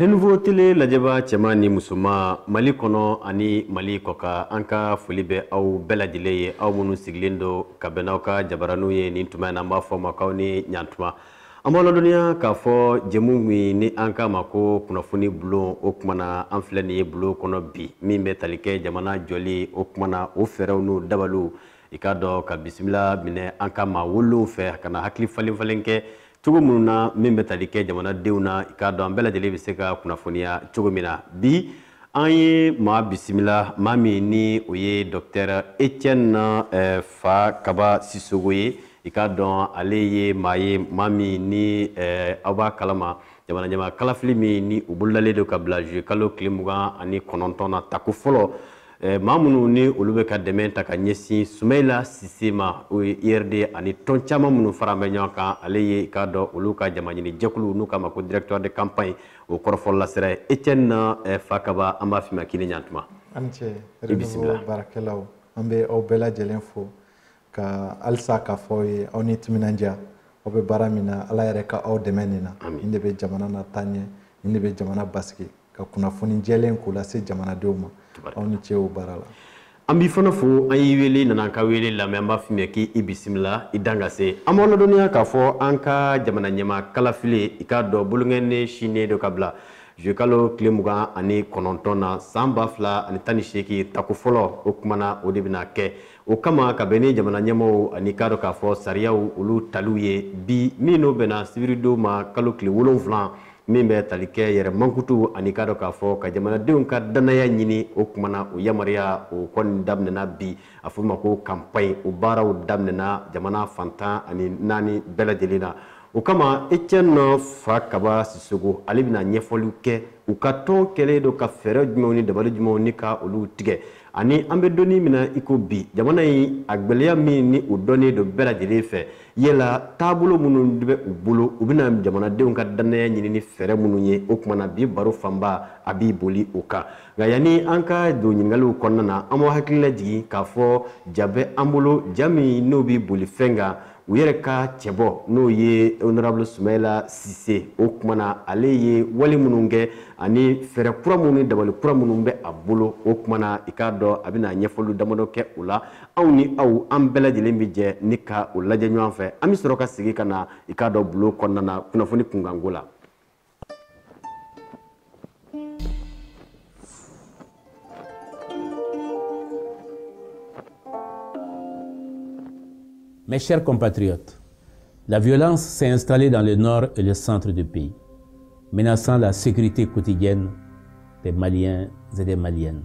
renouveau tele lajɛbaa cɛman ni musoman mali kɔnɔ ani mali kɔkan an ka foli bɛ aw bɛɛ lajɛlen ye aw minnu sigilen don ka bɛn n'aw ka jabaraninw ye nin tuma in na an b'a fɔ aw ma k'aw ni ɲantuma an b'aw ladɔnniya k'a fɔ jɛmu min ni an k'a ma ko kunnafoni bulon o kuma na an filɛ nin ye bulon kɔnɔ bi min bɛ tali kɛ jamana jɔli o kuma na o fɛɛrɛw n'o dabaliw i k'a dɔn ka bisimila minɛ an ka maa welelenw fɛ ka na hakili falen falen kɛ cogo minnu na min bɛ tali kɛ jamanadenw na i k'a dɔn an bɛɛ lajɛlen bɛ se ka kunnafoniya cogo min na bi an ye maa bisimila maa min ni o ye dɔktɛr etienne eh, fakaba sisogo ye i k'a dɔn ale ye maa ye maa min ni eh, aw b'a kalama jamana ɲɛmaa kalafili min ni o bolodalen don ka bila juye kalo tile mugan ani kɔnɔntɔn na tako fɔlɔ eh, maa minnu ni olu bɛ ka dɛmɛ ta ka ɲɛsin sumayila sise ma o ye urd ye ani tɔn caman minnu faralen bɛ ɲɔgɔn kan ale ye i k'a dɔn olu ka jamaɲini jɛkulu n'u k'a ma ko directoire de campagne o kɔrɔfɔlasela ye etienne eh, fakaba an b'a f'i ma k'i ni ɲantuma a ni ce bisimila baarakɛlaw an bɛ aw bɛɛ lajɛlen fo ka halisa k'a fɔ aw ye aw ni timinandiya aw bɛ baara min na ala yɛrɛ ka aw dɛmɛ nin na nin de bɛ jamana lataa ɲɛ nin de bɛ jamana basigi ka kunnafoni jɛlen k'o lase jamanadenw ma aw ni ce o baara la an b'i fana fo an y'i wele i nana an ka wele lamɛn an b'a f'i ma k'i i bisimila i dan ka se an b'aw ladɔnniya k'a fɔ an ka jamana ɲɛmaa kalafili i k'a dɔn bolonkɔni sinnen don ka bila zuye kalo tile mugan ani kɔnɔntɔn na san ba fila ani tan ni seegin tako fɔlɔ o kuma na o de bɛna kɛ o kama ka bɛn ni jamana ɲɛmaaw ani i k'a dɔn k'a fɔ sariyaw olu taliw ye bi min n'o bɛnna sibiridon ma kalo tile wolonfila min bɛ tali kɛ yɛrɛ mankutu ani k'a dɔn k'a fɔ ka jamanadenw ka dannaya ɲini o tuma na o yamaruya o kɔni daminɛna bi a fɔ ma ko kanpaɲi o baaraw daminɛna jamana fan tan ani naani bɛɛ lajɛlen na o kama etienne fakaba sisogo ale bɛna ɲɛfɔliw kɛ u ka tɔn kɛlen don ka fɛɛrɛ jumɛnw ni dabali jumɛnw ni ka olu tigɛ ani an bɛ don min na i ko bi jamana in a gɛlɛya min ni o dɔnnen don bɛɛ lajɛlen fɛ yala taabolo minnu bɛ u bolo u bɛna jamanadenw ka dannaya ɲini ni fɛɛrɛ minnu ye o tuma na bi baro fanba a bɛ boli o kan nka yanni an ka don ɲininkaliw kɔnɔna na an b'aw hakili lajigin k'a fɔ ja bɛ an bolo ja min n'o bɛ boli fɛn kan u yɛrɛ ka cɛbɔ n'o ye honorable sumayila sise o tuma na ale ye wale minnu kɛ ani fɛɛrɛ kura minnu ni dabali kura minnu bɛ a bolo o tuma na i k'a dɔn a bɛna ɲɛfɔli damadɔ kɛ o la anw ni aw an bɛɛ lajɛlen bɛ jɛ ni ka o lajɛ ɲɔgɔn fɛ an bɛ sɔrɔ ka segin ka na i k'a dɔn bulon kɔnɔna na kunnafoni kunkanko la Mes chers compatriotes, la violence s'est installée dans le nord et le centre du pays, menaçant la sécurité quotidienne des Maliens et des Maliennes.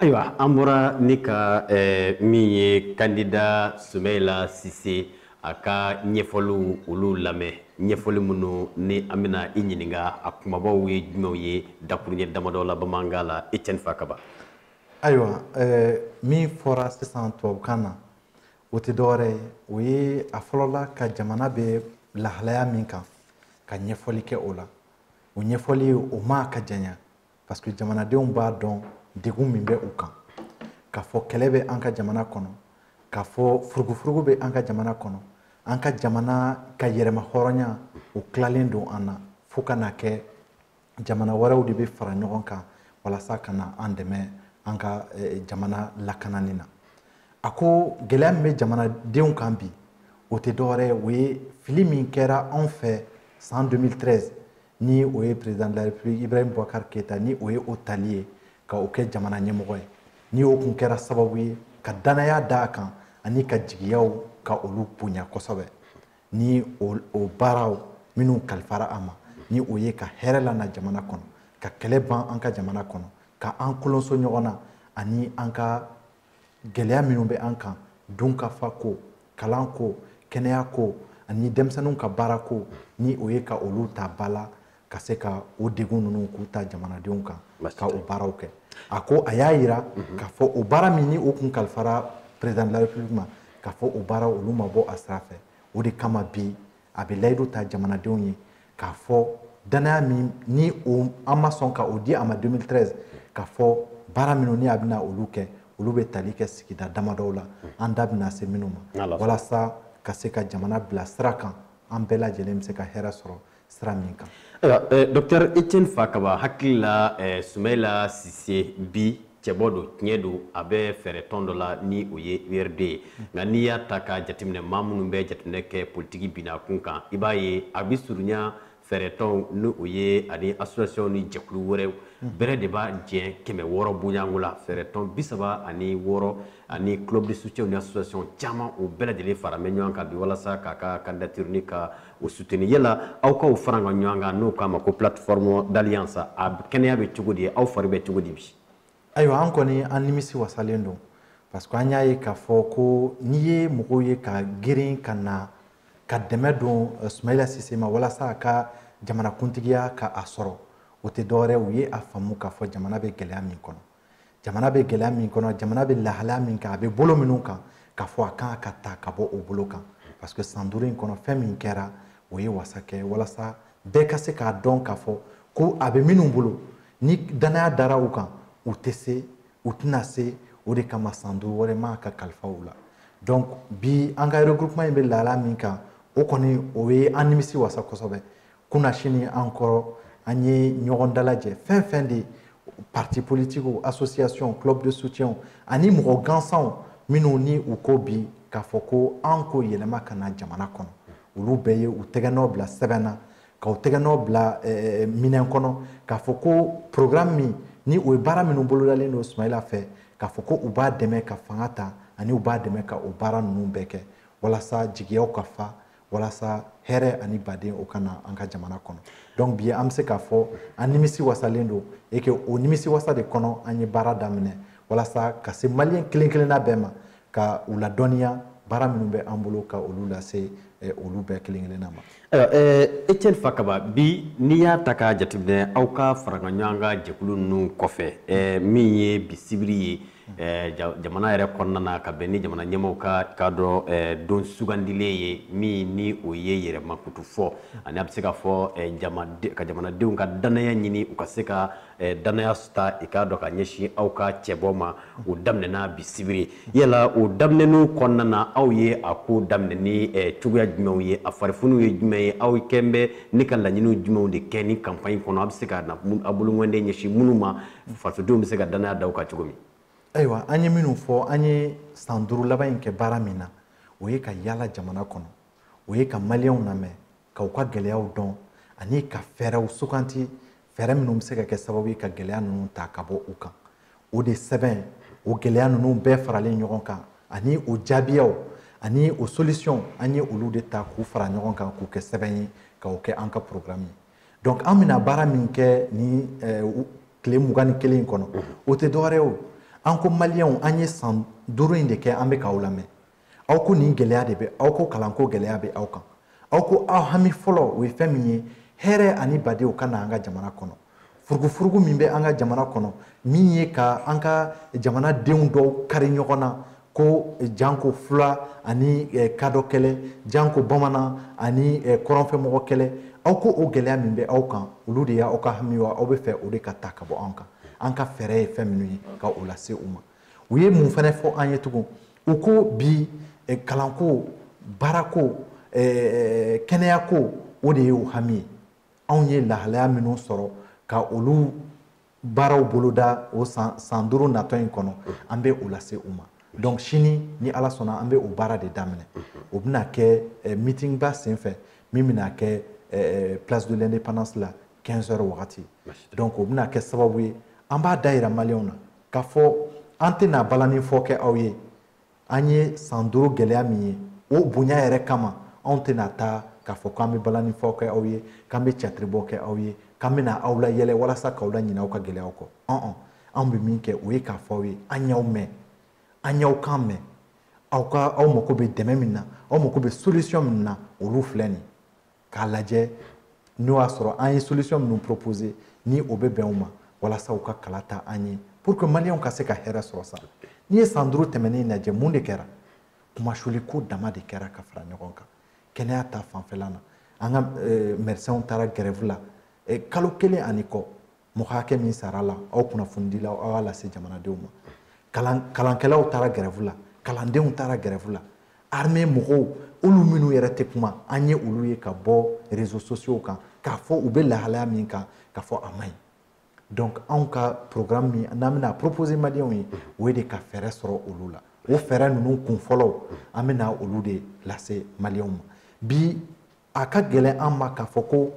ayiwa an bɔra ni ka eh, min ye kandida sumeyila sise a ka ɲɛfɔliw olu lamɛn ɲɛfɔli minnu ni an bɛna i ɲininka a kumabaw ye jumɛnw ye dakuruɲɛ damadɔ la bamanankan la etiɛni fakaba ayiwa eh, min fɔra sisan tubabukan na o tɛ dɔwɛrɛ ye o ye a fɔlɔla ka jamana bɛ lahalaya min kan ka ɲɛfɔli kɛ o la o ɲɛfɔli o ma ka janya parce que jamanadenw b'a dɔn degun min bɛ u kan k'a fɔ kɛlɛ bɛ an ka jamana kɔnɔ k'a fɔ furugufurugu bɛ an ka jamana kɔnɔ an ka jamana ka yɛrɛmahɔrɔnya o tilalen don an na fo ka na kɛ jamana wɛrɛw de bɛ fara ɲɔgɔn kan walasa ka na an dɛmɛ an ka eh, jamana lakanani na a ko gɛlɛya min bɛ jamanadenw kan bi o tɛ dɔwɛrɛ ye o ye fili min kɛra anw fɛ san 2013 ni o ye président de la république ibrahim boubacar keyita ni o ye o tali ye ka o kɛ jamana ɲɛmɔgɔ ye ni o kun kɛra sababu ye ka dannaya da a kan ani ka jigiyaw ka olu bonya kosɛbɛ ni o baaraw minnu kalifara a ma ni o ye ka hɛrɛ lana jamana kɔnɔ ka kɛlɛ ban an ka jamana kɔnɔ ka an kolonso ɲɔgɔn na ani an ka gɛlɛya minnu bɛ an kan dunkafa ko kalan ko kɛnɛya ko ani denmisɛnninw ka baara ko ni o ye ka olu ta ba la ka se ka o degun ninnu k'u ta jamanadenw kan ka o baaraw kɛ a ko a y'a yira mhm. k'a fɔ o baara min ni o kun kalifara président de la république ma k'a fɔ o baara olu ma bɔ a sira fɛ o de kama bi a bɛ layidu ta jamanadenw ye k'a fɔ dannaya min ni o an ma sɔn ka o di a ma 2013 k'a fɔ baara minnu ni a bɛna olu kɛ olu bɛ tali kɛ sigida damadɔw la an da bɛna se minnu ma walasa ka se ka jamana bila sira kan an bɛɛ lajɛlen bɛ se ka hɛrɛ sɔrɔ sira min kan. Ayiwa, docteur Etienne Fakaba hakili la Sumeyila Sise bi cɛbɔ don tiɲɛ don a bɛ fɛɛrɛtɔn dɔ la ni o ye urd ye nka n'i y'a ta ka jateminɛ maa minnu bɛ jateminɛ kɛ politiki binakun kan i b'a ye a bɛ surunya fɛɛrɛtɔnw ni o ye ani association ni jɛkulu wɛrɛw bɛrɛ de b'a jɛ kɛmɛ wɔɔrɔ bɔɲɔgɔnko la fɛɛrɛtɔn bi saba ani wɔɔrɔ ani club de soutien ni association caman o bɛɛ lajɛlen faralen bɛ ɲɔgɔn kan bi walasa k'a ka candidature ni ka o suteni yala aw ka farakaɲɔgɔnkan n'o k'a ma ko plateforme d'alliance a kɛnɛya bɛ cogo di aw fari bɛ cogo di bi ayiwa an kɔni an nimisi wasalen don parce que an y'a ye k'a fɔ ko n'i ye mɔgɔw ye ka girin ka na ka dɛmɛ don eh, sumayila sise ma walasa a ka jamanakuntigiya ka a sɔrɔ o tɛ dɔwɛrɛ u ye a faamu k'a fɔ jamana bɛ gɛlɛya min kɔnɔ jamana bɛ gɛlɛya min kɔnɔ jamana bɛ lahalaya min kan a bɛ bolo minnu kan k'a fɔ a kan ka ta ka bɔ o bolo kan parce que san duuru in kɔnɔ fɛn min kɛra o ye wasa kɛ walasa bɛɛ ka se k'a dɔn k'a fɔ ko a bɛ minnu bolo ni danaya dara u kan u tɛ se u tɛna se o de kama san duuru wɛrɛ man ka kalifa u la donc bi an ka regroupement in bɛ lahalaya min kan o kɔni o ye an nimisi wasa kosɛbɛ kunasini an kɔrɔ an ye ɲɔgɔn dalajɛ fɛn fɛn de parti politiques association club de soutien ani mɔgɔ gansanw minnu ni u ko bi k'a fɔ ko an ko yɛlɛma ka na jamana kɔnɔ olu bɛɛ ye u tɛgɛnɔ bila sɛbɛn na ka u tɛgɛnɔ bila eh, minɛn kɔnɔ k'a fɔ ko programme min ni o ye baara minnu bolodalen don sumayila fɛ k'a fɔ ko u b'a dɛmɛ ka fanga ta ani u b'a dɛmɛ ka o baara ninnu bɛɛ kɛ walasa jigiyaw ka fa walasa hɛrɛ ani baden o ka na an ka jamana kɔnɔ donc bi an bɛ se k'a fɔ an nimisi wasalen don et que o nimisi wasa de kɔnɔ an ye baara daminɛ walasa ka se maliyɛn kelen kelenna bɛɛ ma ka u ladɔnniya baara minnu bɛ an bolo ka olu lase eh, olu bɛɛ kelen kelenna ma ayiwa eh, etienne fakaba bi n'i y'a ta k'a jateminɛ aw ka farakaɲɔgɔnkan jɛkulu ninnu kɔfɛ eh, min ye bi sibiri ye Eh, jamana yɛrɛ kɔnɔna na ka bɛn ni jamana ɲɛmɔgɔw ka i k'a dɔn eh, don sugandilen ye min ni o ye yɛrɛmankutu fɔ ani a bɛ se ka fɔ eh, ka jamanadenw ka dannaya ɲini u ka se ka dannaya ta i k'a dɔn ka ɲɛsin aw ka cɛbɔ ma o daminɛna bi sibiri yala o daminɛni o kɔnɔna na aw ye a ko daminɛ ni cogoya jumɛnw ye a farifunu ye jumɛn ye aw kɛn bɛ ne ka laɲiniw jumɛnw de kɛ nin kanpaɲi kɔnɔ a bɛ se ka aw bolonkɔnden ɲɛsin minnu ma fasodenw bɛ se ka danaya da aw kan cogo min ayiwa an ye minnu fɔ an ye san duuru laban in kɛ baara min na o ye ka yaala jamana kɔnɔ o ye ka maliyɛnw lamɛn ka u ka gɛlɛyaw dɔn ani ka fɛɛrɛw suganti fɛɛrɛ minnu bɛ se ka kɛ sababu ye ka gɛlɛya ninnu ta ka bɔ u kan o de sɛbɛn o gɛlɛya ninnu bɛɛ faralen ɲɔgɔn kan ani o jaabiyaw ani o solisiyɔn an ye olu de ta k'u fara ɲɔgɔn kan k'u kɛ sɛbɛn ye ka o kɛ an ka porogaramu ye donc an bɛna baara min kɛ nin eh, tile mugan ni kelen in kɔnɔ mhm. o tɛ dɔwɛrɛ o an ko maliyɛnw an ye san duuru in de kɛ an bɛ k'aw lamɛn aw ko nin gɛlɛya de bɛ aw ko kalanko gɛlɛya bɛ aw kan aw ko aw hami fɔlɔ o ye fɛn min ye hɛrɛ ani baden o ka na an ka jamana kɔnɔ furugufurugu min bɛ an ka jamana kɔnɔ min ye ka an ka jamanadenw dɔw kari ɲɔgɔn na ko eh, janko fula ani eh, kadɔ kɛlɛ janko bamanan ani eh, kɔrɔnfɛmɔgɔ kɛlɛ aw ko o gɛlɛya min bɛ aw kan olu de y'aw ka hami wa aw b'a fɛ o de ka ta ka bɔ an kan an ka fɛɛrɛ ye fɛn minnu ye ka o lase u ma u ye mun fana fɔ an ye tugun u ko bi kalanko baarako kɛnɛyako o de ye u hami ye anw ye lahalaya minnu sɔrɔ ka olu baaraw boloda o san san duuru natɔ in kɔnɔ an bɛ o lase u ma donc sini ni ala sɔnna an bɛ o baara de daminɛ o bɛna kɛ eh, meeting ba sen fɛ min bɛna kɛ eh, eh, place de l'indépendance la 15 heures wagati donc o bɛna kɛ sababu ye an b'a dayira maliyɛnw na k'a fɔ an tɛna balani fɔ kɛ aw ye an ye san duuru gɛlɛya min ye o bonya yɛrɛ kama anw tɛna taa k'a fɔ k'an bɛ balanifɔ kɛ aw ye k'an bɛ catiribɔ kɛ aw ye k'an bɛna aw layɛlɛ walasa k'aw laɲinɛ aw ka gɛlɛyaw kɔ ɔn ɔn anw bɛ min kɛ o ye k'a fɔ aw ye an y'aw mɛn an y'aw kan mɛn aw ka aw mako bɛ dɛmɛ min na aw mako bɛ solution min na olu filɛ nin ye k'a lajɛ n'o y'a sɔrɔ an ye solution minnu proposer ni o bɛ bɛn u ma walasa u ka kala ta an ye pour que maliyɛnw ka se ka hɛrɛ sɔrɔ sa n'i ye san duuru tɛmɛnen lajɛ mun de kɛra kunmasuuli ko dama de kɛra ka fara ɲɔgɔn kan kɛnɛya ta fanfɛla na an ka eh, médecinw taara gɛrɛvu la eh, kalo kelen ani kɔ mɔgɔ hakɛ min sara a la aw kunnafonidilaw aw y'a lase jamanadenw ma kalan kalankɛlaw taara gɛrɛfu la kalandenw taara gɛrɛfu la armée mɔgɔw olu minnu yɛrɛ tɛ kuma an ye olu ye ka bɔ réseaux sociaux kan k'a fɔ u bɛ lahalaya min kan k'a fɔ a man ɲi donc anw ka programme min n'an bɛna proposer maliyɛnw ye o ye de ka fɛɛrɛ sɔrɔ olu la o fɛɛrɛ ninnu kunfɔlɔw an bɛna olu de lase maliyɛnw ma bi a ka gɛlɛn an ma k'a fɔ ko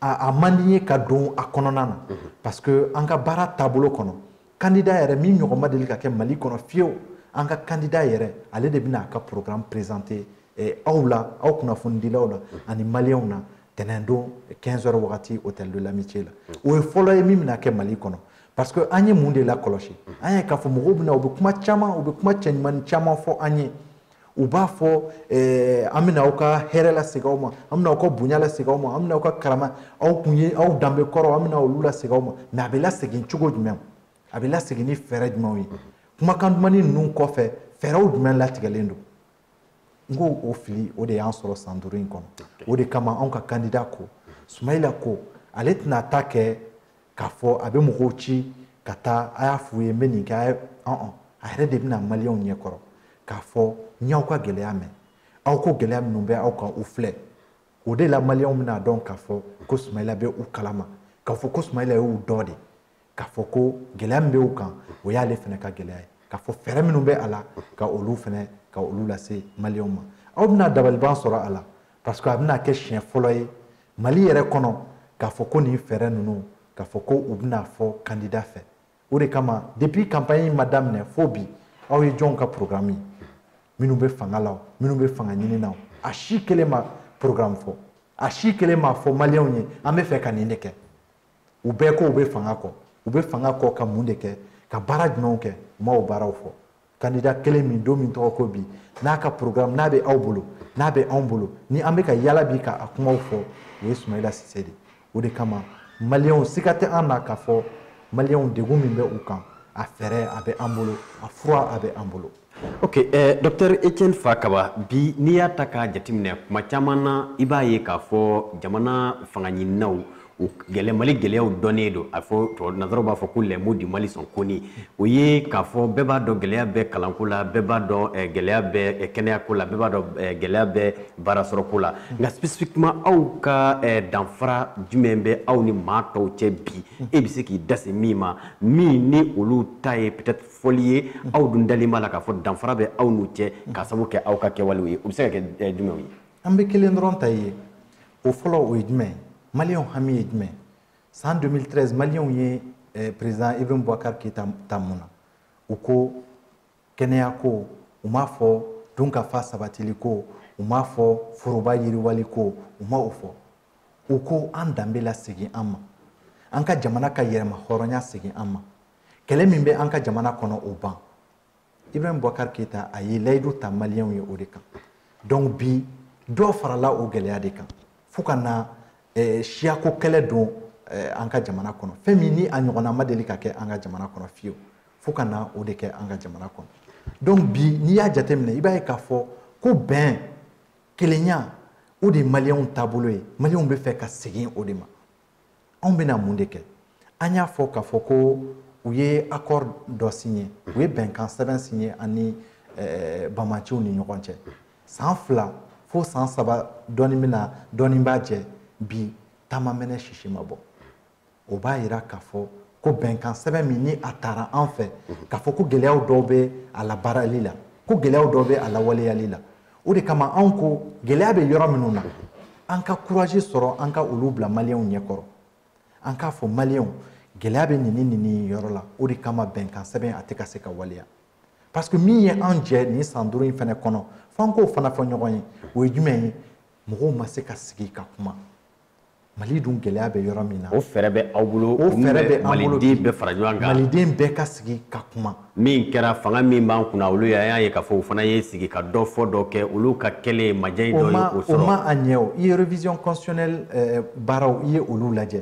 a man di ye ka don a kɔnɔna na mhm. parce que an ka baara taabolo kɔnɔ kandida yɛrɛ min ɲɔgɔn ma deli ka kɛ mali kɔnɔ fiyew an ka kandida yɛrɛ ale de bɛna a ka programme présenter eh, aw la aw kunnafonidilaw la mhm. ani maliyɛnw na tɛnɛn don 15 heures wagati hôtel de l'amitié la mhm. o ye fɔlɔ ye min bɛna kɛ mali kɔnɔ parce que an ye mun de lakɔlɔsi an y'a ye k'a fɔ mɔgɔw bɛ na u bɛ kuma caman u bɛ kuma cɛɲumanin caman fɔ an ye u b'a fɔ eh, an bɛna aw ka hɛrɛ lasegin aw ma an bɛna aw ka bonya lasegin aw ma an bɛna aw ka karama aw kun ye aw danbe kɔrɔ an bɛna olu lasegin aw ma mais a bɛ lasegin cogo jumɛn a bɛ lasegin ni fɛɛrɛ jumɛnw ye kumakan dumani ninnu kɔfɛ fɛɛrɛw jumɛn latigɛlen don n ko o fili o de y'an sɔrɔ san duuru in kɔnɔ o de kama anw ka kandida ko sumayila ko ale tɛna ta kɛ k'a fɔ a bɛ mɔgɔw ci ka taa a y'a f'u ye n bɛ nin kɛ a ye ɔn a yɛrɛ de bɛ na maliyɛnw ɲɛ kɔrɔ k'a fɔ n y'aw ka gɛlɛya mɛn aw ko gɛlɛya minnu bɛ aw kan u filɛ o de la maliyɛnw bɛna dɔn k'a fɔ ko sumayila bɛ u kalama k'a fɔ ko sumayila y'u dɔ de k'a fɔ ko gɛlɛya min bɛ u kan o y'ale fana ka gɛlɛya ye k'a fɔ fɛɛrɛ minnu bɛ a la ka olu fana ka olu lase maliyɛnw ma aw bɛna dabaliban sɔrɔ a la parce que a bɛna kɛ siɲɛ fɔlɔ ye mali yɛrɛ kɔnɔ k'a fɔ ko nin fɛɛrɛ ninnu k'a fɔ ko u bɛna fɔ kandida fɛ o de kama depuis campagne in ma daminɛ fo bi aw ye jɔnw ka programme ye minnu bɛ fanga la o minnu bɛ fanga ɲini na o a si kelen ma programme fɔ a si kelen ma fɔ maliyɛnw ye an bɛ fɛ ka nin de kɛ u bɛɛ ko u bɛ fanga kɔ u bɛ fanga kɔ ka mun de kɛ ka baara jumɛnw kɛ u ma o baaraw fɔ kandida kelen min don min tɔgɔ ko bi n'a ka programme n'a bɛ aw bolo n'a bɛ anw bolo ni an bɛ ka yala bi ka a kumaw fɔ o ye sumayila sise de o de kama maliyɛnw siga tɛ an na k'a fɔ maliyɛnw degun min bɛ u kan a fɛɛrɛ a bɛ an bolo a fura a bɛ an bolo ok eh, docteur etienne fakaba bi n'i y'a ta k'a jateminɛ kuma caman na i b'a ye k'a fɔ jamana fangaɲininaw o gɛlɛ mali gɛlɛyaw dɔnnen don a fɔ nasaraw b'a fɔ ko les maux du mali sont connus o ye k'a fɔ bɛɛ b'a dɔn gɛlɛya bɛ kalanko la bɛɛ b'a dɔn eh, gɛlɛya bɛ eh, kɛnɛyako la bɛɛ b'a dɔn eh, gɛlɛya bɛ baarasɔrɔko la nka spécifiquement aw ka danfara jumɛn bɛ aw ni maa tɔw cɛ bi e bɛ se k'i da se min ma min ni olu ta ye peut-être fɔli ye aw dun dalen b'a la k'a fɔ danfara bɛ aw n'u cɛ k'a sabu kɛ aw ka kɛwalew ye o bɛ se ka kɛ jumɛnw ye an bɛ kelen dɔrɔn ta ye o fɔlɔ o ye jumɛn ye maliyɛnw hami ye jumɛn ye san 2013 maliyɛnw ye eh, président ibrahim boubacar keyita ta mun na u ko kɛnɛya ko u m'a fɔ dunkafa sabatili ko u m'a fɔ foroba yiriwali ko u ma o fɔ u ko an danbe lasegin an ma an ka jamana ka yɛrɛmahɔrɔnya segin an ma kɛlɛ min bɛ an ka jamana kɔnɔ o ban ibrahim boubacar keyita a ye layidu ta maliyɛnw ye o de kan donc bi dɔ farala o gɛlɛya de kan fo ka na eh, siyako kɛlɛ don eh, an ka jamana kɔnɔ fɛn min ni a ɲɔgɔnna ma deli ka kɛ an ka jamana kɔnɔ fiyewu fo ka na o de kɛ an ka jamana kɔnɔ donc bi n'i y'a jateminɛ i b'a ye k'a fɔ ko bɛn kelenya o de ye maliyɛnw taabolo ye maliyɛnw bɛ fɛ ka segin o de ma anw bɛna mun de kɛ an y'a fɔ k'a fɔ ko u ye accord dɔ signé u ye bɛnkan sɛbɛn signé ani eh, banbaanciw ni ɲɔgɔn cɛ san fila fo san saba dɔɔni bɛna dɔɔni b'a jɛ bi ta ma mɛnɛ sisi ma bɔ o b'a yira k'a fɔ ko bɛnkan sɛbɛn min ni a tara an fɛ k'a fɔ ko gɛlɛyaw dɔw bɛ a labaarali la ko gɛlɛyaw dɔw bɛ a lawaleyali la o de kama anw ko gɛlɛya bɛ yɔrɔ minnu na an ka kurazi sɔrɔ an ka olu bila maliyɛnw ɲɛkɔrɔ an k'a fɔ maliyɛnw gɛlɛya bɛ nin ni nin yɔrɔ la o de kama bɛnkan sɛbɛn a tɛ ka se ka waleya parce que min ye an jɛ nin san duuru in fana kɔnɔ f'an k'o fana fɔ ɲɔgɔn ye o ye jumɛn ye mɔgɔw ma se ka sigi ka kuma mali dun gɛlɛya bɛ yɔrɔ min na o fɛɛrɛ bɛ aw bolo o fɛɛrɛ bɛ an bolo maliden bɛɛ fara ɲɔgɔn kan maliden bɛɛ ka sigi ka kuma min kɛra fanga min b'an kunna olu y'a y'a ye k'a fɔ o fana ye sigi ka dɔ fɔ dɔ kɛ olu ka kɛlen ye majɛ in dɔ ye o sɔrɔ o ma a ɲɛ o i ye révision constitutionnelle eh, baaraw i ye olu lajɛ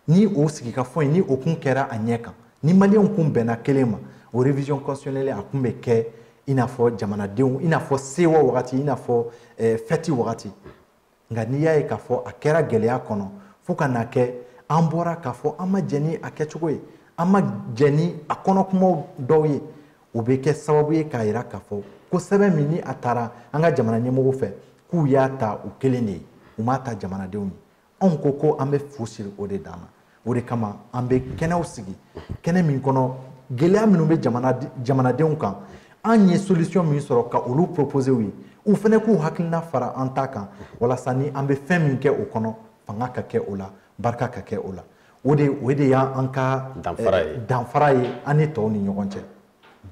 ni o sigikafɔ in ni o kun kɛra a ɲɛ kan ni maliyɛnw kun bɛnna kelen ma o révision constitutionnelle a kun bɛ kɛ i n'a fɔ jamanadenw i n'a fɔ sewa wagati i n'a fɔ eh, fɛti wagati nka n'i y'a ye k'a fɔ a kɛra gɛlɛya kɔnɔ fo ka na kɛ an bɔra k'a fɔ an ma jɛn ni a kɛcogo ye an ma jɛn ni a kɔnɔ kumaw dɔw ye o bɛ kɛ sababu ye k'a jira k'a fɔ ko sɛbɛn min ni a tara an ka jamana ɲɛmɔgɔw fɛ k'u y'a ta u kelen de ye u m'a ta jamanadenw ye anw ko ko an bɛ fu siri o de dan na o de kama an bɛ kɛnɛw sigi kɛnɛ min kɔnɔ gɛlɛya minnu bɛ jamanadenw kan an ye solution min sɔrɔ ka olu proposer u ye u fana k'u hakilina fara an ta kan walasa ni an bɛ fɛn min kɛ o kɔnɔ fanga ka kɛ o la barika ka kɛ o la o de o de y'an ka danfara ye danfara ye an ni tɔw ni ɲɔgɔn cɛ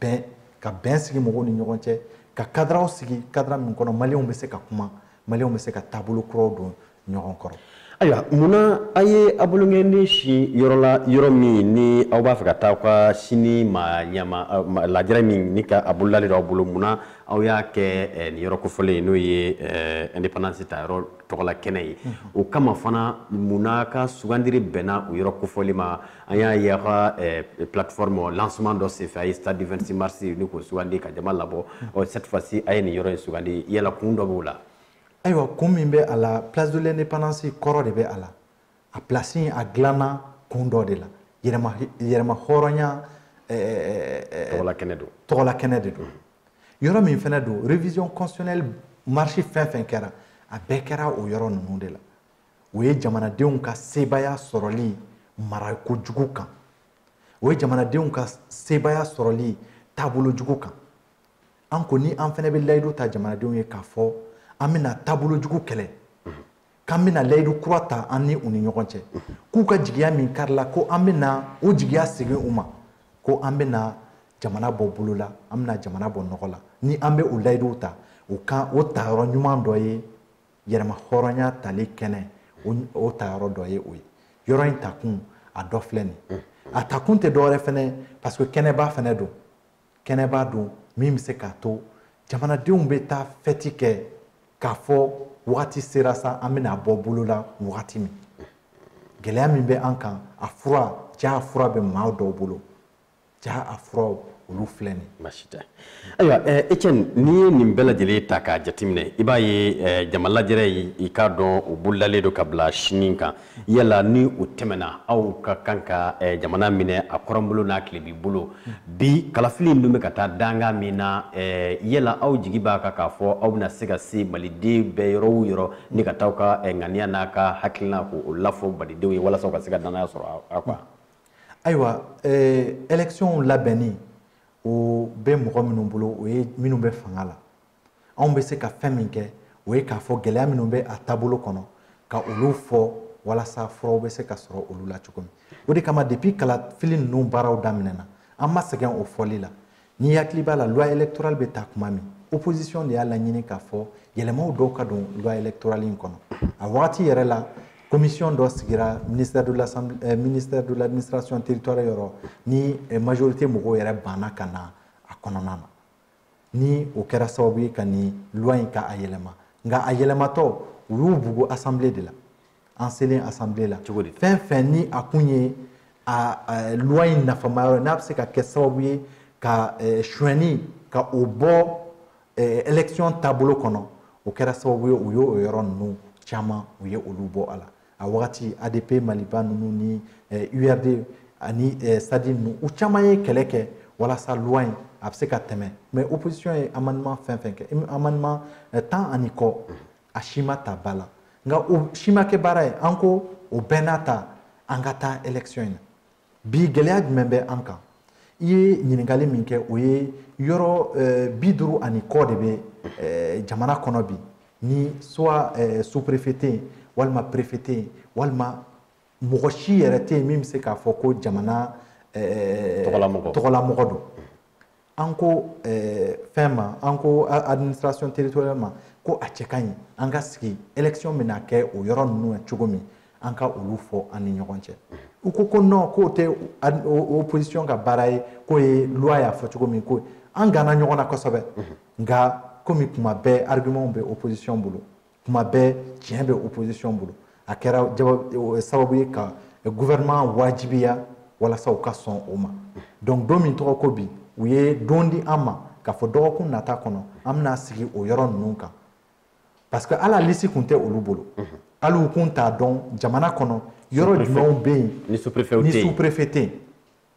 bɛn ka bɛn sigi mɔgɔw ni ɲɔgɔn cɛ ka kadaraw sigi kadara min kɔnɔ maliyɛnw bɛ se ka kuma maliyɛnw bɛ se ka taabolo kuraw don ɲɔgɔn kɔrɔ ayiwa munna a ye a bolonkɔnin sin yɔrɔ la yɔrɔ min ni aw b'a fɛ ka taa aw ka sini ma jama lajɛrɛ min ni ka a bolodalen don aw bolo munna aw y'a kɛ nin yɔrɔ kofɔlen ye n'o ye indépendance ta yɔrɔ tɔgɔla kɛnɛ ye o kama fana munna ka sugandiri bɛnna o yɔrɔ kofɔlen ma an y'a ye aw ka plateforme lancement dɔ senfɛ a ye stade du 26 mars nin k'o sugandi ka jama labɔ cette fois ci a ye nin yɔrɔ in sugandi yala kun dɔ b'o la ayiwa kun min bɛ a la place de l'indépendance kɔrɔ de bɛ a la a place in a dilanna kun dɔ de la yɛrɛma yɛrɛma hɔrɔnya tɔgɔla kɛnɛ don tɔgɔla kɛnɛ de don yɔrɔ min fana don révision constitutionnelle marche fɛn fɛn kɛra a bɛɛ kɛra o yɔrɔ ninnu de la o ye jamanadenw ka sebaaya sɔrɔli mara kojugu kan o ye jamanadenw ka sebaaya sɔrɔli taabolo jugu kan an ko ni an fana bɛ layidu ta jamanadenw ye k'a fɔ an bɛna taabolo jugu kɛlɛ k'an bɛna layidu kura ta an ni u ni ɲɔgɔn cɛ k'u ka jigiya min karila ko an bɛna o jigiya segin u ma ko an bɛna jamana bɔ bolo la an bɛna jamana bɔ nɔgɔ la ni an bɛ o layiduw ta o kan o tayɔrɔ ɲuman dɔ ye yɛrɛma hɔrɔnya tali kɛnɛ o tayɔrɔ dɔ ye o ye yɔrɔ in takun a dɔ filɛ nin a takun tɛ dɔwɛrɛ fɛnɛ parce que kɛnɛba fɛnɛ don kɛnɛba don min bɛ se k'a to jamanadenw bɛ taa fɛti kɛ k'a fɔ wagati sera sa an bɛna bɔ bolo la wagati min gɛlɛya min bɛ an kan a fura jaa a fura bɛ maa dɔw bolo jaa a furaw olu filɛ nin basi tɛ ayiwa étienne eh, n'i ye nin bɛɛ lajɛlen ta k'a jateminɛ i b'a ye eh, jama lajɛrɛ i k'a dɔn o bolodalen don ka bila sini kan yala ni o tɛmɛna aw ka kan ka eh, jamana minɛ a kɔrɔnbolo n'a tilebin bolo bi kalafili in dun bɛ ka taa danga min na eh, yala aw jigi b'a kan k'a fɔ aw bɛna se ka se maliden bɛɛ yɔrɔ o yɔrɔ ni ka taa aw ka eh, ŋaniya n'aw ka hakilina k'o lafɔ malidenw ye walasa u ka se ka dannaya sɔrɔ aw kan ayiwa ɛlɛkisiyɔnw labɛnni o bɛ mɔgɔ minnu bolo o ye minnu bɛ fanga la anw bɛ se ka fɛn min kɛ o ye k'a fɔ gɛlɛya minnu bɛ a taabolo kɔnɔ ka olu fɔ walasa furaw bɛ se ka sɔrɔ olu la cogo min o de kama depuis kalafili ninnu baaraw daminɛna an ma sɛgɛn o fɔli la n'i hakili b'a la loi électorale bɛ ta tuma min opposition de y'a laɲini k'a fɔ yɛlɛmaw dɔw ka don loi électorale in kɔnɔ a wagati yɛrɛ la commission dɔ sigira ministère de l'assemblée eh, ministère de l'administration territoriale yɔrɔ ni eh, majorité mɔgɔw yɛrɛ banna ka na a kɔnɔna na ni o kɛra sababu ye ka nin loi in ka a yɛlɛma nka a yɛlɛmatɔ u y'u bugu assemblée de la an selen assemblée la cogo di fɛn fɛn ni a kun ye a loi in nafama yɔrɔ n'a bɛ se ka kɛ sababu ye ka eh, suɲɛni ka o bɔ eh, élection taabolo kɔnɔ o kɛra sababu ye u y'o yɔrɔ ninnu caman u ye olu bɔ a la a wagati adp maliba ninnu ni urd eh, ani eh, sadi ninnu u caman ye kɛlɛ kɛ walasa loi in a bɛ se ka tɛmɛ mais opposition ye amendement fɛn fɛn kɛ amendement eh, tan ani kɔ a si ma ta ba la nka o si ma kɛ baara ye an ko o bɛɛ n'a ta an ka taa élection in na bi gɛlɛya jumɛn bɛ an kan i ye ɲininkali min kɛ o ye yɔrɔ eh, bi duuru ani kɔ de bɛ eh, jamana kɔnɔ bi ni soit eh, sous-préfet tɛ yen walima préfet tɛ yen walima mɔgɔ si yɛrɛ tɛ yen min bɛ se k'a fɔ ko jamana tɔgɔlamɔgɔ don an ko eh, fɛn ma an ko administration territoriale ma ko a cɛ ka ɲi an ka sigi élection bɛna kɛ o yɔrɔ ninnu na cogo min an ka olu fɔ an ni ɲɔgɔn cɛ u ko ko non k'o tɛ opposition ka baara ye k'o ye loi y'a fɔ cogo min ko an ganna ɲɔgɔn na kosɛbɛ nka komi kuma bɛɛ argument bɛ opposition bolo kuma bɛɛ tiɲɛ bɛ opposition bolo a kɛra eh, sababu ye ka eh, gouvernement wajibiya walasa u ka sɔn o ma donc don min tɔgɔ ko bi u ye don di an ma k'a fɔ dɔgɔkun nata kɔnɔ an bɛna sigi o yɔrɔ ninnu kan parce que hali lisi kun tɛ olu bolo hali u kun t'a dɔn jamana kɔnɔ yɔrɔ jumɛnw bɛ yen ni sous-préfet tɛ yen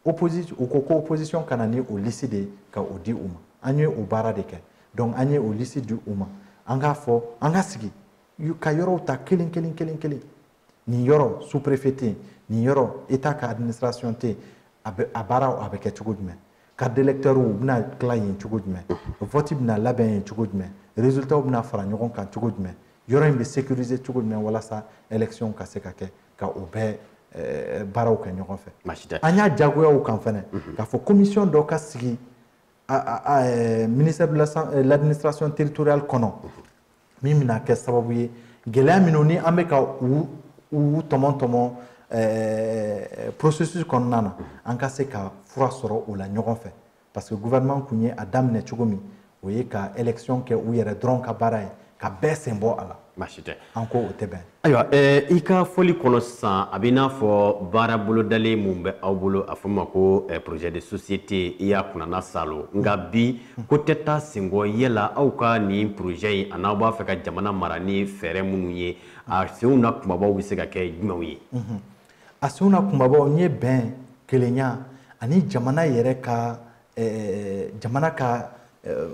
opposition u ko ko opposition ka na ni o lisi de ka o di u ma an ye o baara de kɛ donc an ye o lisi di u ma an k'a fɔ an ka sigi ka yɔrɔw ta kelen kelen kelen kelen nin yɔrɔ sous préfet tɛ yen nin yɔrɔ état ka administration tɛ yen a bɛ a baaraw a bɛ kɛ cogo jumɛn cartes d'électeurs u bɛna tila yen cogo jumɛn vote bɛna labɛn yen cogo jumɛn résultats bɛna fara ɲɔgɔn kan cogo jumɛn yɔrɔ in bɛ sécuriser cogo jumɛn walasa élection ka se ka kɛ ka o bɛɛ eh, baaraw kɛ ɲɔgɔn fɛ an y'a jagoya u kan fɛnɛ mhm. k'a fɔ commission dɔ ka sigi eh, ministère de eh, l'administration territoriale kɔnɔ mhm. min bɛna kɛ sababu ye gɛlɛya minnu ni an bɛ ka u u tɔmɔ tɔmɔ processus kɔnɔna na mhm. an ka se ka fura sɔrɔ o la ɲɔgɔn fɛ parce que gouvernement kun ye a daminɛ cogo min o ye ka élection kɛ u yɛrɛ dɔrɔn ka baara ye ka bɛɛ sen bɔ a la baasi tɛ an ko o tɛ bɛn ayiwa eh, i ka fɔli kɔnɔ sisan a bɛ i n'a fɔ baara bolodalen min bɛ aw bolo a fɔ ma ko eh, projet de société i y'a kunnana saalo nka bi ko tɛ taa senkɔ yala aw ka nin projet in a n'aw b'a fɛ ka jamana mara ni fɛɛrɛ minnu ye a senw na kunbabaw bɛ se ka kɛ jumɛnw ye mhm. a senw na kunbabaw n ye bɛn kelenya ani jamana yɛrɛ ka eh, jamana ka eh,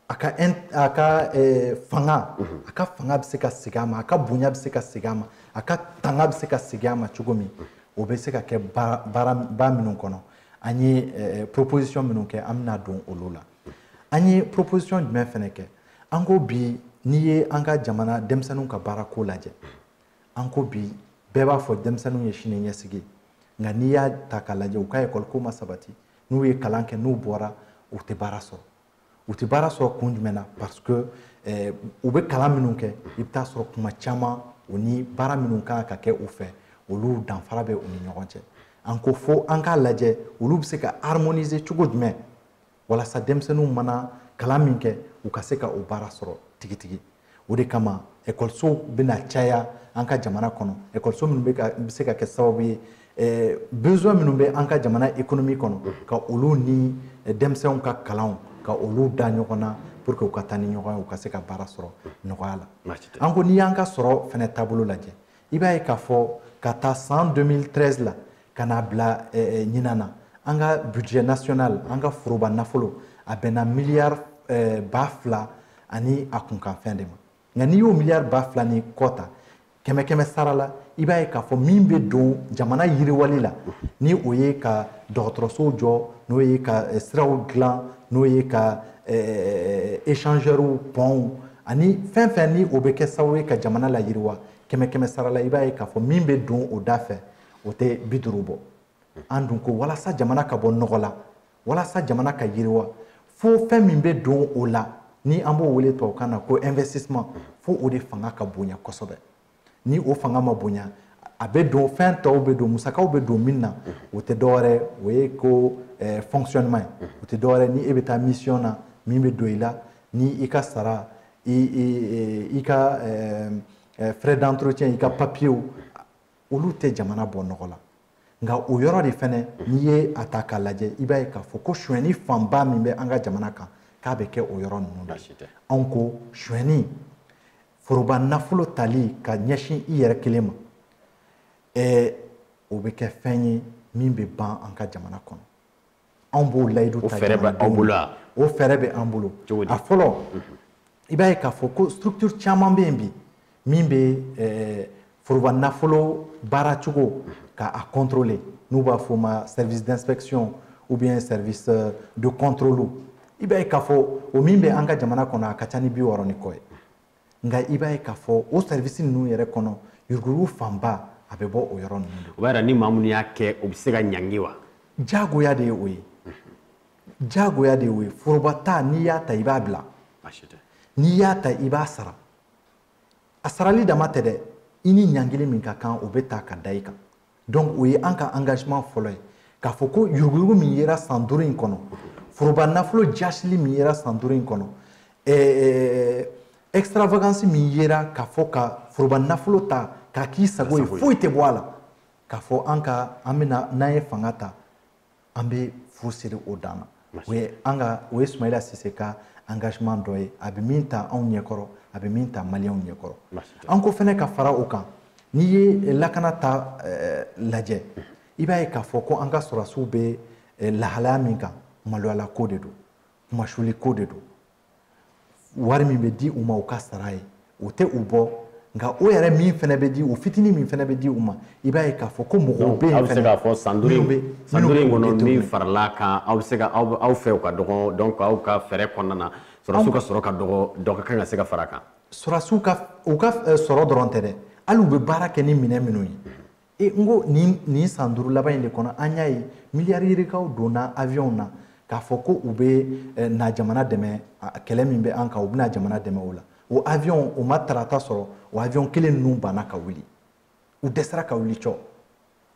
a ka a ka eh, fanga mhm. a ka fanga bɛ se ka segin a ma a ka bonya bɛ se ka segin a ma a ka tanga bɛ se ka segin a ma cogo min mhm. o bɛ se ka kɛ baaraba minnu kɔnɔ an ye proposition minnu kɛ an bɛna don olu la mhm. an ye proposition jumɛn fana kɛ an ko bi n'i ye an ka jamana denmisɛnninw ka baara ko lajɛ an ko bi bɛɛ b'a fɔ denmisɛnninw ye sini ɲɛsigi nka n'i y'a ta k'a lajɛ u ka ekɔliko ma sabati n'u ye kalan kɛ n'u bɔra u tɛ baara sɔrɔ u tɛ baara sɔrɔ kun jumɛn na parce que eh, u bɛ kalan minnu kɛ i bɛ t'a sɔrɔ kuma caman u ni baara minnu kan ka kɛ u fɛ olu danfara bɛ u ni ɲɔgɔn cɛ an ko fo an k'a lajɛ olu bɛ se ka harmoniser cogo jumɛn walasa denmisɛnninw mana kalan min kɛ u ka se ka o baara sɔrɔ tigitigi o de kama ekɔlisow bɛna caya an ka jamana kɔnɔ ekɔliso minnu bɛ ka bɛ se ka kɛ sababu ye eh, besoin minnu bɛ an ka jamana économie kɔnɔ mm-hmm. ka olu ni eh, denmisɛnw ka kalanw ka olu da ɲɔgɔn na pour que u ka taa ni ɲɔgɔn ye u ka se ka baara sɔrɔ mm-hmm. nɔgɔya la an ko n'i y'an ka sɔrɔ fɛnɛ taabolo lajɛ i b'a ye k'a fɔ k'a ta san 2013 la ka n'a bila ɲinan na an ka budget national an ka foroba nafolo a bɛnna miliyari ba fila ani a kunkanfɛn de ma nka n'i y'o miliyari ba fila ni kɔ ta kɛmɛ kɛmɛ sara la i b'a ye k'a fɔ min bɛ don jamana yiriwali la ni o ye ka dɔgɔtɔrɔsow jɔ n'o ye ka siraw dilan n'o ye ka échangeurs pɔnw ani fɛn o fɛn ni o bɛ kɛ sababu ye ka jamana layiriwa kɛmɛ kɛmɛ sara la i b'a ye k'a fɔ min bɛ don o da fɛ o tɛ bi duuru bɔ an dun ko walasa jamana ka bɔ nɔgɔ la walasa jamana ka yiriwa fo fɛn min bɛ don o la ni an b'o wele tubabukan na ko investissement fo o de fanga ka bonya kosɛbɛ ni o fanga ma bonya a bɛ don fɛn tɔw bɛ don musakaw bɛ don min na o tɛ dɔwɛrɛ o ye ko eh, fonctionnement ye o tɛ dɔwɛrɛ ni e bɛ taa mission na min bɛ don i la ni i ka sara i i i ka eh, eh, frais d'entretien i ka papiyew olu tɛ jamana bɔ nɔgɔ la nka o yɔrɔ de fɛnɛ n'i ye a ta k'a lajɛ i b'a ye k'a fɔ ko sonyɛni fanba min bɛ an ka jamana kan k'a bɛ kɛ o yɔrɔ ninnu la anw ko sonyɛni foroba nafolo tali ka ɲɛsin i yɛrɛ kelen ma ɛɛ o bɛ kɛ fɛn ye min bɛ ban an ka jamana kɔnɔ anw b'o layidu ta fɛɛrɛ bɛ anw bolo o fɛɛrɛ bɛ an bolo a fɔlɔ i b'a ye k'a fɔ ko structure caman bɛ yen bi min bɛ eh, foroba nafolo baara cogo ka a contrôler n'u b'a fɔ o ma service d'inspection ou bien service euh, de contrôle i b'a ye k'a fɔ o min bɛ an ka jamana kɔnɔ a ka ca ni bi wɔɔrɔ ni kɔ ye nka i b'a ye k'a fɔ o service ninnu yɛrɛ kɔnɔ yuruguyurugu fanba a bɛ bɔ o yɔrɔ ninnu de o b'a yira ni maa minnu y'a kɛ o bɛ se ka ɲangi wa diyagoya de ye o ye diyagoya de ye o ye foroba ta n'i y'a ta i b'a bila n'i y'a ta i b'a sara a sarali dama tɛ dɛ i ni ɲangili min ka kan o bɛ ta ka da i kan donc o ye an ka engagement fɔlɔ ye k'a fɔ ko yuruguyurugu min yera san duuru in kɔnɔ foroba nafolo jaasili min yera san duuru in kɔnɔ eh, eh, extravagance min yera k'a fɔ ka foroba nafolo ta k'a k'i sago ye foyi tɛ bɔ a la k'a fɔ an ka an bɛna n'an ye fanga ta an bɛ fu siri o dan na o ye an ka o ye sumayila sise ka engagement dɔ ye a bɛ min ta anw ɲɛkɔrɔ a bɛ min ta maliyɛnw ɲɛkɔrɔ an ko fɛnɛ ka fara o kan n'i ye lakana ta eh, lajɛ i b'a ye k'a fɔ ko an ka sɔrɔdasiw bɛ eh, lahalaya min kan maloyala ko de don kunmasuuli ko de don wari min bɛ di u ma u ka sara ye o tɛ u bɔ nka o yɛrɛ min fɛnɛ bɛ di o fitinin min fɛnɛ bɛ di u ma i b'a ye k'a fɔ ko mɔgɔw bɛ yen aw bɛ se k'a fɔ san duuru in san duuru in kɔnɔ min farala kan aw bɛ se ka aw aw fɛ o ka dɔgɔ donc aw ka fɛɛrɛ kɔnɔna na sɔrɔdasiw ka sɔrɔ ka dɔgɔ dɔ ka kan ka se ka fara a kan sɔrɔdasiw ka u ka eh, sɔrɔ dɔrɔn tɛ dɛ hali u bɛ baara kɛ ni minɛn minnu ye e n ko nin nin san duuru laban in de kɔnɔ an y'a ye miliyari yirikaw donna aviɔnw na k'a fɔ ko u bɛ eh, na jamana dɛmɛ kɛlɛ min bɛ an kan u bɛna jamana dɛmɛ o la o aviɔn o ma tarata sɔrɔ o aviɔn kelen ninnu banna ka wuli u dɛsɛra ka wuli cɔ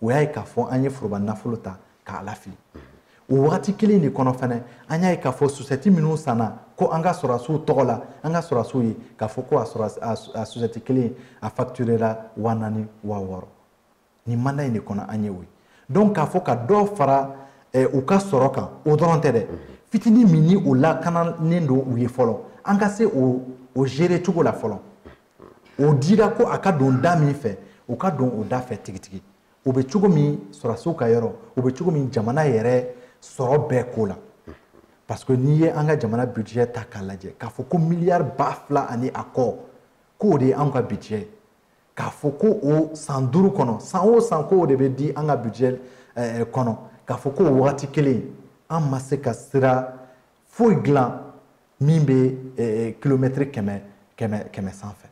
o y'a ye k'a fɔ an ye foroba nafolo ta k'a lafili o wagati kelen de kɔnɔ fana an y'a ye k'a fɔ susɛti minnu sanna ko an ka sɔrɔdasiw tɔgɔ la an ka sɔrɔdasiw ye k'a fɔ ko a susɛti kelen a facturera waa naani waa wɔɔrɔ nin mandat in de kɔnɔ an ye o ye donc k'a fɔ ka dɔ fara eh, u ka sɔrɔ kan o dɔrɔn tɛ dɛ fitini min ni o lakananen don u ye fɔlɔ an ka se o o gérer cogo la fɔlɔ o dira ko a ka don da min fɛ o ka don o da fɛ tigitigi o bɛ cogo min sɔrɔdasiw ka yɔrɔ o bɛ cogo min jamana yɛrɛ sɔrɔ bɛɛ ko la parce que n'i ye an ka jamana budget ta k'a lajɛ k'a fɔ ko miliyari ba fila ani a kɔ k'o de ye anw ka budget ye k'a fɔ ko o san duuru kɔnɔ san o san k'o de bɛ di an ka budget eh, eh, kɔnɔ k'a fɔ k'o wagati kelen an ma se ka sira foyi dilan min bɛ kilomɛtiri eh, kɛmɛ kɛmɛ kɛmɛ sanfɛ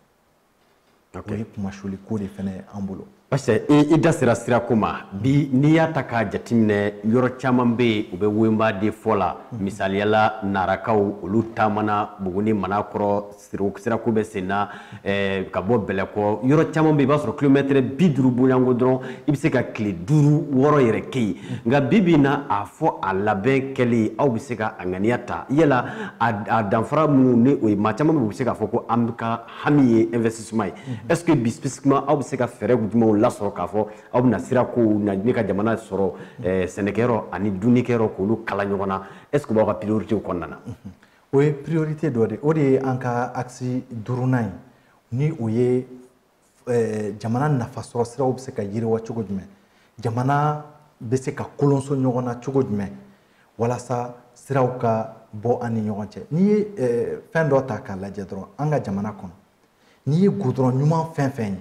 o ye kunmasuli ko de fana ye an bolo parce que i da sera sira ko ma bi n'i y'a ta k'a jateminɛ yɔrɔ caman bɛ yen u bɛ woyinba de fɔ la mhm. misaliya la narakaw olu taamana buguni manankɔrɔ sirako bɛ sen na eh, ka bɔ bɛlɛkɔ yɔrɔ caman bɛ yen i b'a sɔrɔ kilomɛtɛrɛ bi duuru bɔɲɔgɔnko dɔrɔn i bɛ se ka tile duuru wɔɔrɔ yɛrɛ kɛ yen mhm. nka bi bi in na a fɔ a labɛn kɛli aw bɛ se ka a ŋaniya ta yala a danfara minnu ni o ye maa caman bɛ u bɛ se k'a fɔ ko an bɛ ka hami ye investissement ye est ce que bi spécifiquement aw bɛ se ka fɛɛrɛ jumɛnw lasɔrɔ k'a fɔ aw bɛna sira kow na ne ka jamana sɔrɔ eh, sɛnɛkɛyɔrɔ ani dunnikɛyɔrɔ k'olu kala ɲɔgɔn na est ce que o b'aw ka prioritew kɔnɔna na o ye priorité dɔ de o de ye an ka axe duurunan ye ni o ye eh, jamana nafasɔrɔ siraw bɛ se ka yiriwa cogo jumɛn jamana bɛ se ka kolonso ɲɔgɔn na cogo jumɛn walasa siraw ka bɔ an ni ɲɔgɔn cɛ n'i ye eh, fɛn dɔ ta k'a lajɛ dɔrɔn an ka jamana kɔnɔ n'i ye gudɔrɔn ɲuman fɛn fɛn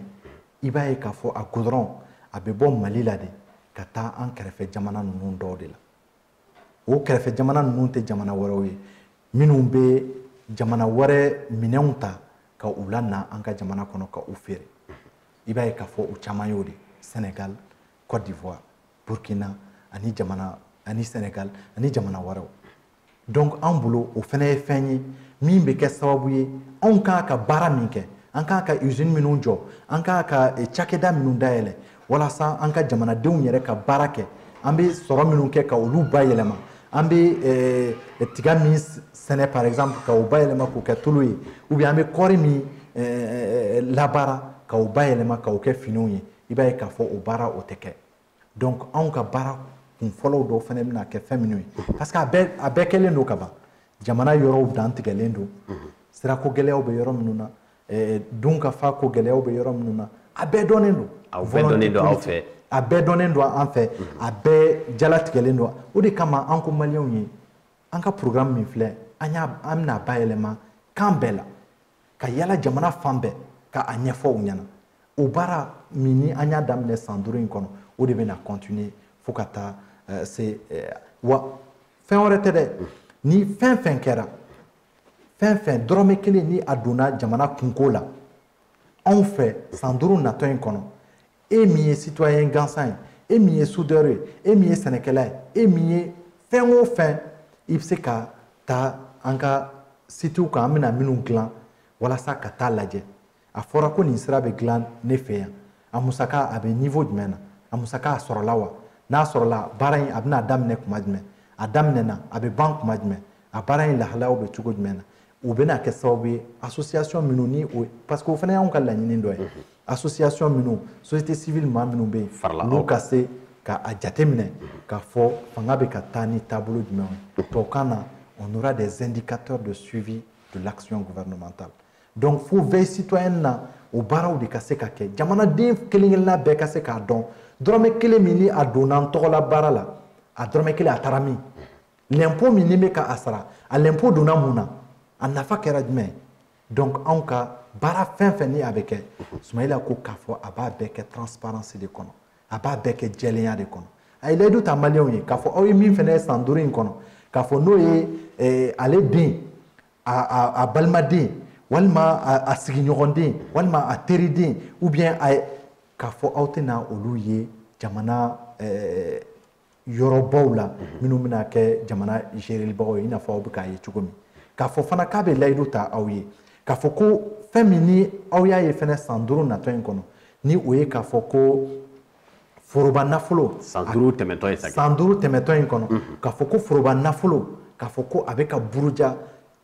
ye i b'a ye k'a fɔ a gudɔrɔn a bɛ bɔ mali la de ka taa an kɛrɛfɛ jamana ninnu dɔw de la o kɛrɛfɛ jamana ninnu tɛ jamana wɛrɛw ye minnu bɛ jamana wɛrɛ minɛnw ta ka u lana an ka jamana kɔnɔ ka u feere i b'a ye k'a fɔ u caman y'o de senegal côte d'ivoire burkina ani jamana ani senegal ani jamana wɛrɛw donc an bolo o fana ye fɛn ye min bɛ kɛ sababu ye anw kan ka baara min kɛ an kan ka usine minnu jɔ an kan ka eh, cakɛda minnu dayɛlɛ walasa an ka jamanadenw yɛrɛ ka baara kɛ an bɛ sɔrɔ minnu kɛ ka olu bayɛlɛma an bɛ eh, tiga min sɛnɛ par exemple ka o bayɛlɛma k'o kɛ tulu ye ou bien an bɛ kɔɔri min eh, labaara ka o bayɛlɛma ka o kɛ finiw ye i b'a ye k'a fɔ o baara o tɛ kɛ donc anw ka baara kun fɔlɔw dɔw fana bɛna kɛ fɛn minnu ye parce que a bɛɛ a bɛɛ kɛlen don ka ban jamana yɔrɔw dantigɛlen don sirako gɛlɛyaw bɛ yɔrɔ minnu na dunkafa ko gɛlɛyaw bɛ yɔrɔ minnu na a bɛɛ dɔnnen don a bɛɛ dɔnnen don an fɛ a bɛɛ jalatigɛlen don o de kama an ko maliyɛnw ye an ka programme min filɛ an y'a an bɛna a bayɛlɛma kan bɛɛ la ka yaala jamana fan bɛɛ ka a ɲɛfɔ u ɲɛna o baara min ni an y'a daminɛ san duuru in kɔnɔ o de bɛna continuer fo ka taa eh, se eh, wa fɛn wɛrɛ tɛ dɛ ni fɛn fɛn kɛra fɛn fɛn dɔrɔmɛ kelen ni a donna jamana kunko la anw fɛ san duuru natɔ in kɔnɔ e min ye citoyen gansan ye e min ye soudeur ye e min ye sɛnɛkɛla ye e min ye fɛn o fɛn i bɛ se ka taa an ka sitiw kan an bɛna minnu dilan walasa ka taa a lajɛ a fɔra ko nin sira bɛ dilan ne fɛ yan a musaka a bɛ niveau jumɛn na a musaka a sɔrɔla wa n'a sɔrɔla baara in a bɛna daminɛ kuma jumɛn a daminɛna a bɛ ban kuma jumɛn a baara in lahalayaw bɛ cogo jumɛn na o bɛna kɛ sababu ye association minnu ni o parce que o fana y'anw ka laɲini dɔ ye mhm. association minnu société civile maa minnu bɛ yen n'u ka se ka a jateminɛ mhm. k'a fɔ fanga bɛ ka taa ni taabolo jumɛn ye mhm. tubabukan na on aura des indicateurs de suivi de l'action gouvernementale donc fo veille citoyenne na o baaraw de ka se ka kɛ jamanaden kelen kelenna bɛɛ ka se k'a dɔn dɔrɔmɛ kelen min ni a donna n tɔgɔla baara la a dɔrɔmɛ kelen a taara min lɛnpo min n'i bɛ ka a sara a lɛnpo donna mun na a nafa kɛra jumɛn ye donc anw ka baara fɛn fɛn ni a bɛ kɛ sumayila ko k'a fɔ a b'a bɛɛ kɛ transparence de kɔnɔ a b'a bɛɛ kɛ jɛlenya de kɔnɔ a ye layidu ta maliyɛnw ye k'a fɔ aw ye min fɛnɛ ye san duuru in kɔnɔ k'a fɔ n'o ye eh, ale den a balimaden walima a sigiɲɔgɔnden walima a teriden ou bien a k'a fɔ aw tɛna olu ye jamana eh, yɔrɔbaw la minnu bɛna kɛ jamana gérelibagaw ye i n'a fɔ aw bɛ k'a ye cogo min k'a fɔ fana k'a bɛ layidu ta aw ye k'a fɔ ko fɛn min ni aw y'a ye fana san duuru natɔ in kɔnɔ ni o ye k'a fɔ ko foroba nafolo san duuru tɛmɛtɔ ye san duuru tɛmɛtɔ in kɔnɔ k'a fɔ ko foroba nafolo k'a fɔ ko a bɛ ka buruja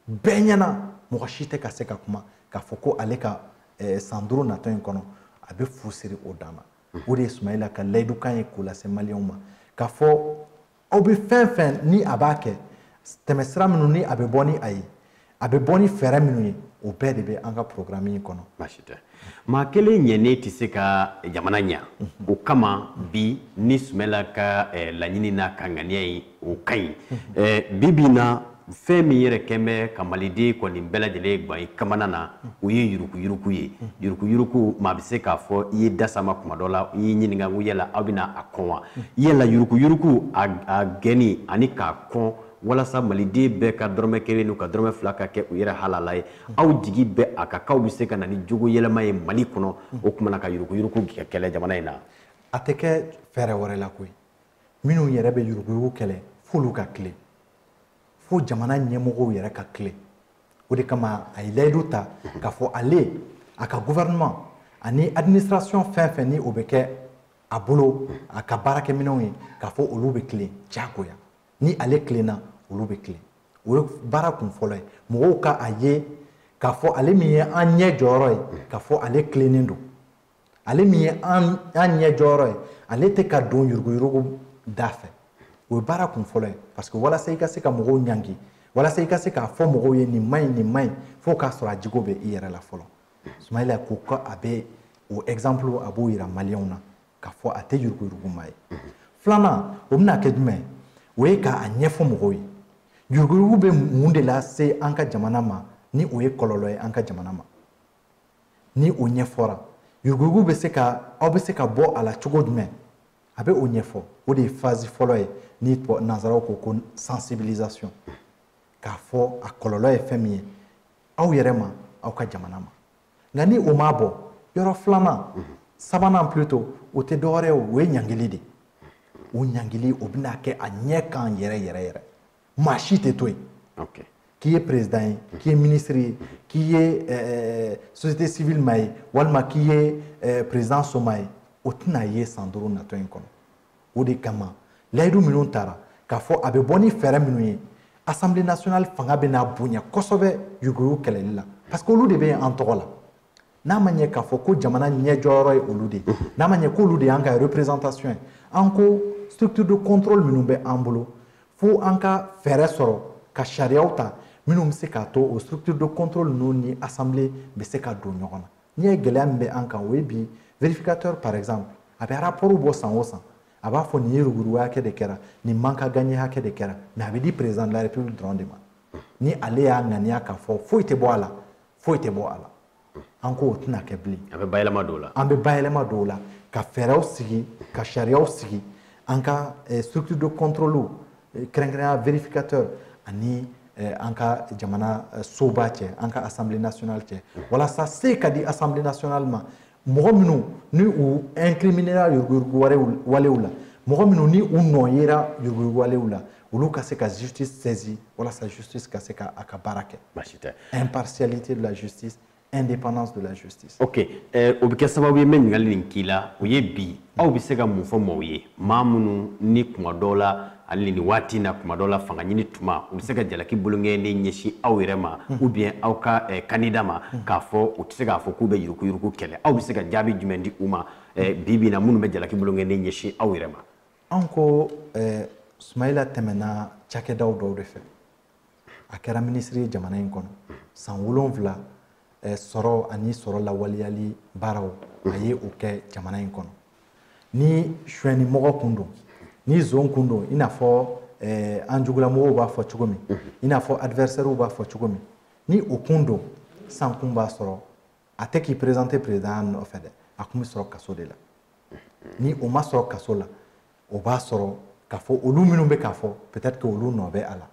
bɛɛ ɲɛna mɔgɔ si tɛ ka se ka kuma k'a fɔ ko ale ka eh, san duuru natɔ in kɔnɔ a bɛ fu siri o dan na o de ye sumayila ka layidukan ye k'o lase maliyɛnw ma k'a fɔ aw bɛ fɛn fɛn ni a b'a kɛ tɛmɛsira minnu ni a bɛ bɔ ni a ye a bɛ bɔ ni fɛɛrɛ minnu ye o bɛɛ de bɛ an ka porogaramu in kɔnɔ baasi tɛ maa kelen ɲɛnen tɛ se ka jamana ɲa o kama bi ni sumayila ka eh, laɲini n'a ka ŋaniya ye o ka ɲi bi bi in na fɛn min yɛrɛ kɛlen bɛ ka maliden kɔni bɛɛ lajɛlen gan i kamana na o ye yurukuyuruku ye yurukuyuruku maa bɛ se k'a fɔ i y'i da s'a ma kuma dɔ la i y'i ɲininka ko yala aw bɛna a kɔn wa yala yurukuyuruku a gɛnni ani k'a kɔn walasa maliden bɛɛ ka dɔrɔmɛ kelen n'u ka dɔrɔmɛ fila ka kɛ u yɛrɛ halala ye aw jigi bɛ a kan k'aw bɛ se ka na ni jogo yɛlɛma ye mali kɔnɔ o tuma na ka yurukuyuruku kɛlɛ jamana in na a tɛ kɛ fɛɛrɛ wɛrɛ la koyi minnu yɛrɛ bɛ yuruguyurugu kɛlɛ f'olu ka tilen fo jamana ɲɛmɔgɔw yɛrɛ ka tilen o de kama a ye layidu ta k'a fɔ ale a ka gouvernement ani administration fɛn fɛn ni o bɛ kɛ a bolo a ka baarakɛminɛnw ye k'a fɔ olu bɛ tilen diyagoya ni ale tilenna olu bɛ tilen o ye baara kun fɔlɔ ye mɔgɔw ka a ye k'a fɔ ale min ye an ɲɛ jɔyɔrɔ ye k'a fɔ ale tilennen don ale min ye an ɲɛ jɔyɔrɔ ye ale tɛ ka don yuruguyurugu da fɛ o ye baara kun fɔlɔ ye parce que walasa i ka se ka mɔgɔw ɲangi walasa i ka se k'a fɔ mɔgɔw ye nin man ɲi nin man ɲi fo k'a sɔrɔ a jogo bɛ i yɛrɛ la fɔlɔ sumayila ko ko a bɛ o exemple a b'o yira maliyɛnw na k'a fɔ a tɛ yuruguyurugu maa ye filanan o bɛna kɛ jumɛn ye o ye k'a ɲɛfɔ mɔgɔw ye yuruguyurugu bɛ mun de lase an ka jamana ma ni o ye kɔlɔlɔ ye an ka jamana ma ni o ɲɛfɔra yuruguyurugu bɛ se ka aw bɛ se ka bɔ a la cogo jumɛn a bɛ o ɲɛfɔ o de ye phase fɔlɔ ye ni nanzaraw ko ko sensibilisation k'a fɔ a kɔlɔlɔ ye fɛn min ye aw yɛrɛ ma aw ka jamana ma nka ni o m'a bɔ yɔrɔ filanan sabanan plutôt o tɛ dɔwɛrɛ ye o ye ɲangili de o ɲangili o bɛna kɛ a ɲɛ kan yɛrɛ yɛrɛ yɛrɛ maa si tɛ to yen k'i ye perezdan ye k'i ye minisiri ye k'i ye eh, société civile maa ye walima k'i ye eh, perezdan somaa ye o tɛna ye san duuru natɔ in kɔnɔ o de kama layidu minnu tara k'a fɔ a bɛ bɔ ni fɛɛrɛ minnu ye assemblée nationale fanga bɛna bonya kosɛbɛ yuruguyurugu kɛlɛli la parce que olu de bɛ yen an tɔgɔ la n'a ma ɲɛ k'a fɔ ko jamana ɲɛjɔyɔrɔ ye olu de ye n'a ma ɲɛ k'olu de y'an ka représentation ye an ka structure de contrôle minnu bɛ an bolo fo an ka fɛɛrɛ sɔrɔ ka sariyaw ta minnu bɛ se k'a to o structure de contrôle ninnu ni assemblée bɛ se ka don ɲɔgɔn na n'i y'a ye gɛlɛya min bɛ an kan o ye bi vérificateur par exemple a bɛ rapport bɔ san o san a b'a fɔ nin ye yuruguyurugu hakɛ de kɛra nin manque à gagner hakɛ de kɛra mais a b'a di président de la république dɔrɔn de ma ni ale y'a ŋaniya k'a fɔ foyi tɛ bɔ a la foyi tɛ bɔ a la an k'o tɛna kɛ bilen an bɛ bayɛlɛma don o la ka fɛɛrɛw sigi ka sariyaw sigi an ka eh, structure de contrôle eh, kɛrɛnkɛrɛnya vérificateur ani eh, an ka jamana soba cɛ an ka assemblée nationale cɛ walasa se ka di assemblée nationale ma mɔgɔ minnu ni u incriminera yuruguyurugu walew la mɔgɔ minnu ni u nɔ yera yuruguyurugu walew la olu ka se ka justice saisi walasa justice ka se ka a ka baara kɛ baasi tɛ impartialité de la justice indépendance de la justice ok eh, o bɛ kɛ sababu ye n bɛ ɲininkali nin k'i la o ye bi aw bɛ se ka mun fɔ maaw ye maa minnu ni kuma dɔw la hali nin waati na kuma dɔw la fanga ɲini tuma u bɛ se ka jalaki bolonkɔni ɲɛsin aw yɛrɛ ma ou bien aw ka eh, kandida ma k'a fɔ u tɛ se k'a fɔ k'u bɛ yurukuyuruku kɛlɛ aw bɛ se ka jaabi jumɛn di u ma eh, bi bi na minnu bɛ jalaki bolonkɔni ɲɛsin aw yɛrɛ ma an ko eh, sumayila tɛmɛna cakɛdaw dɔw de fɛ a kɛra minisiri ye jamana in kɔnɔ san wolonwula eh, sɔrɔ ani sɔrɔ lawaleyali baaraw a ye o kɛ jamana in kɔnɔ ni suɲɛnimɔgɔ kun don ni zon kun don i n'a fɔ eh, an jugulamɔgɔw b'a fɔ cogo min i n'a fɔ adversairew b'a fɔ cogo min ni o kun don san kun b'a sɔrɔ a tɛ k'i présenter président nɔfɛ dɛ a kun bɛ sɔrɔ kaso de la ni o ma sɔrɔ kaso la o b'a sɔrɔ k'a fɔ olu minnu bɛ k'a fɔ peut-être que olu nɔ bɛ a la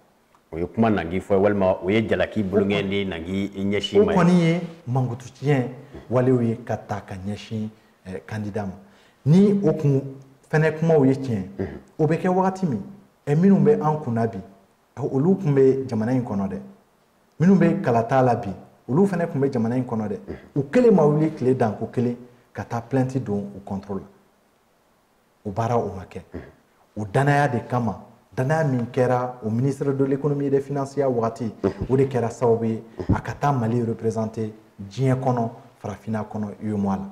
o ye kuma nangi fɔ walima o ye jalaki bolonkɔni nangi ɲɛsin ma o kɔni ye mankutu tiɲɛ walew ye ka ta ka ɲɛsin kandida eh, ma ni o kun fɛnɛ kumaw ye tiɲɛ mhm. o bɛ kɛ wagati min ɛ eh, minnu bɛ an kunna bi eh, olu tun bɛ jamana in kɔnɔ dɛ minnu bɛ kalata la bi olu fana tun bɛ jamana in kɔnɔ dɛ mhm. u kelen ma wuli tile danko kelen ka taa plainte don u contre la o baara o ma kɛ o danaya de kama danaya min kɛra o ministre de l'économie et des finances ya wagati o de kɛra sababu ye a ka taa mali représenter diɲɛ kɔnɔ farafinna kɔnɔ UEMOA la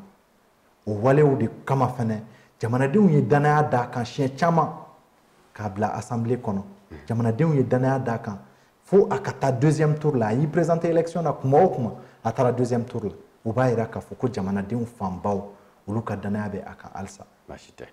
o walew de kama fɛnɛ jamanadenw ye danaya d'a kan siɲɛ caman k'a bila assemblée kɔnɔ jamanadenw ye danaya d'a kan fo a ka taa deuxième tour la a y'i présenter élection na kuma o kuma a taara deuxième tour la o b'a yira k'a fɔ ko jamanadenw fanbaw olu ka danaya bɛ a kan halisa baasi tɛ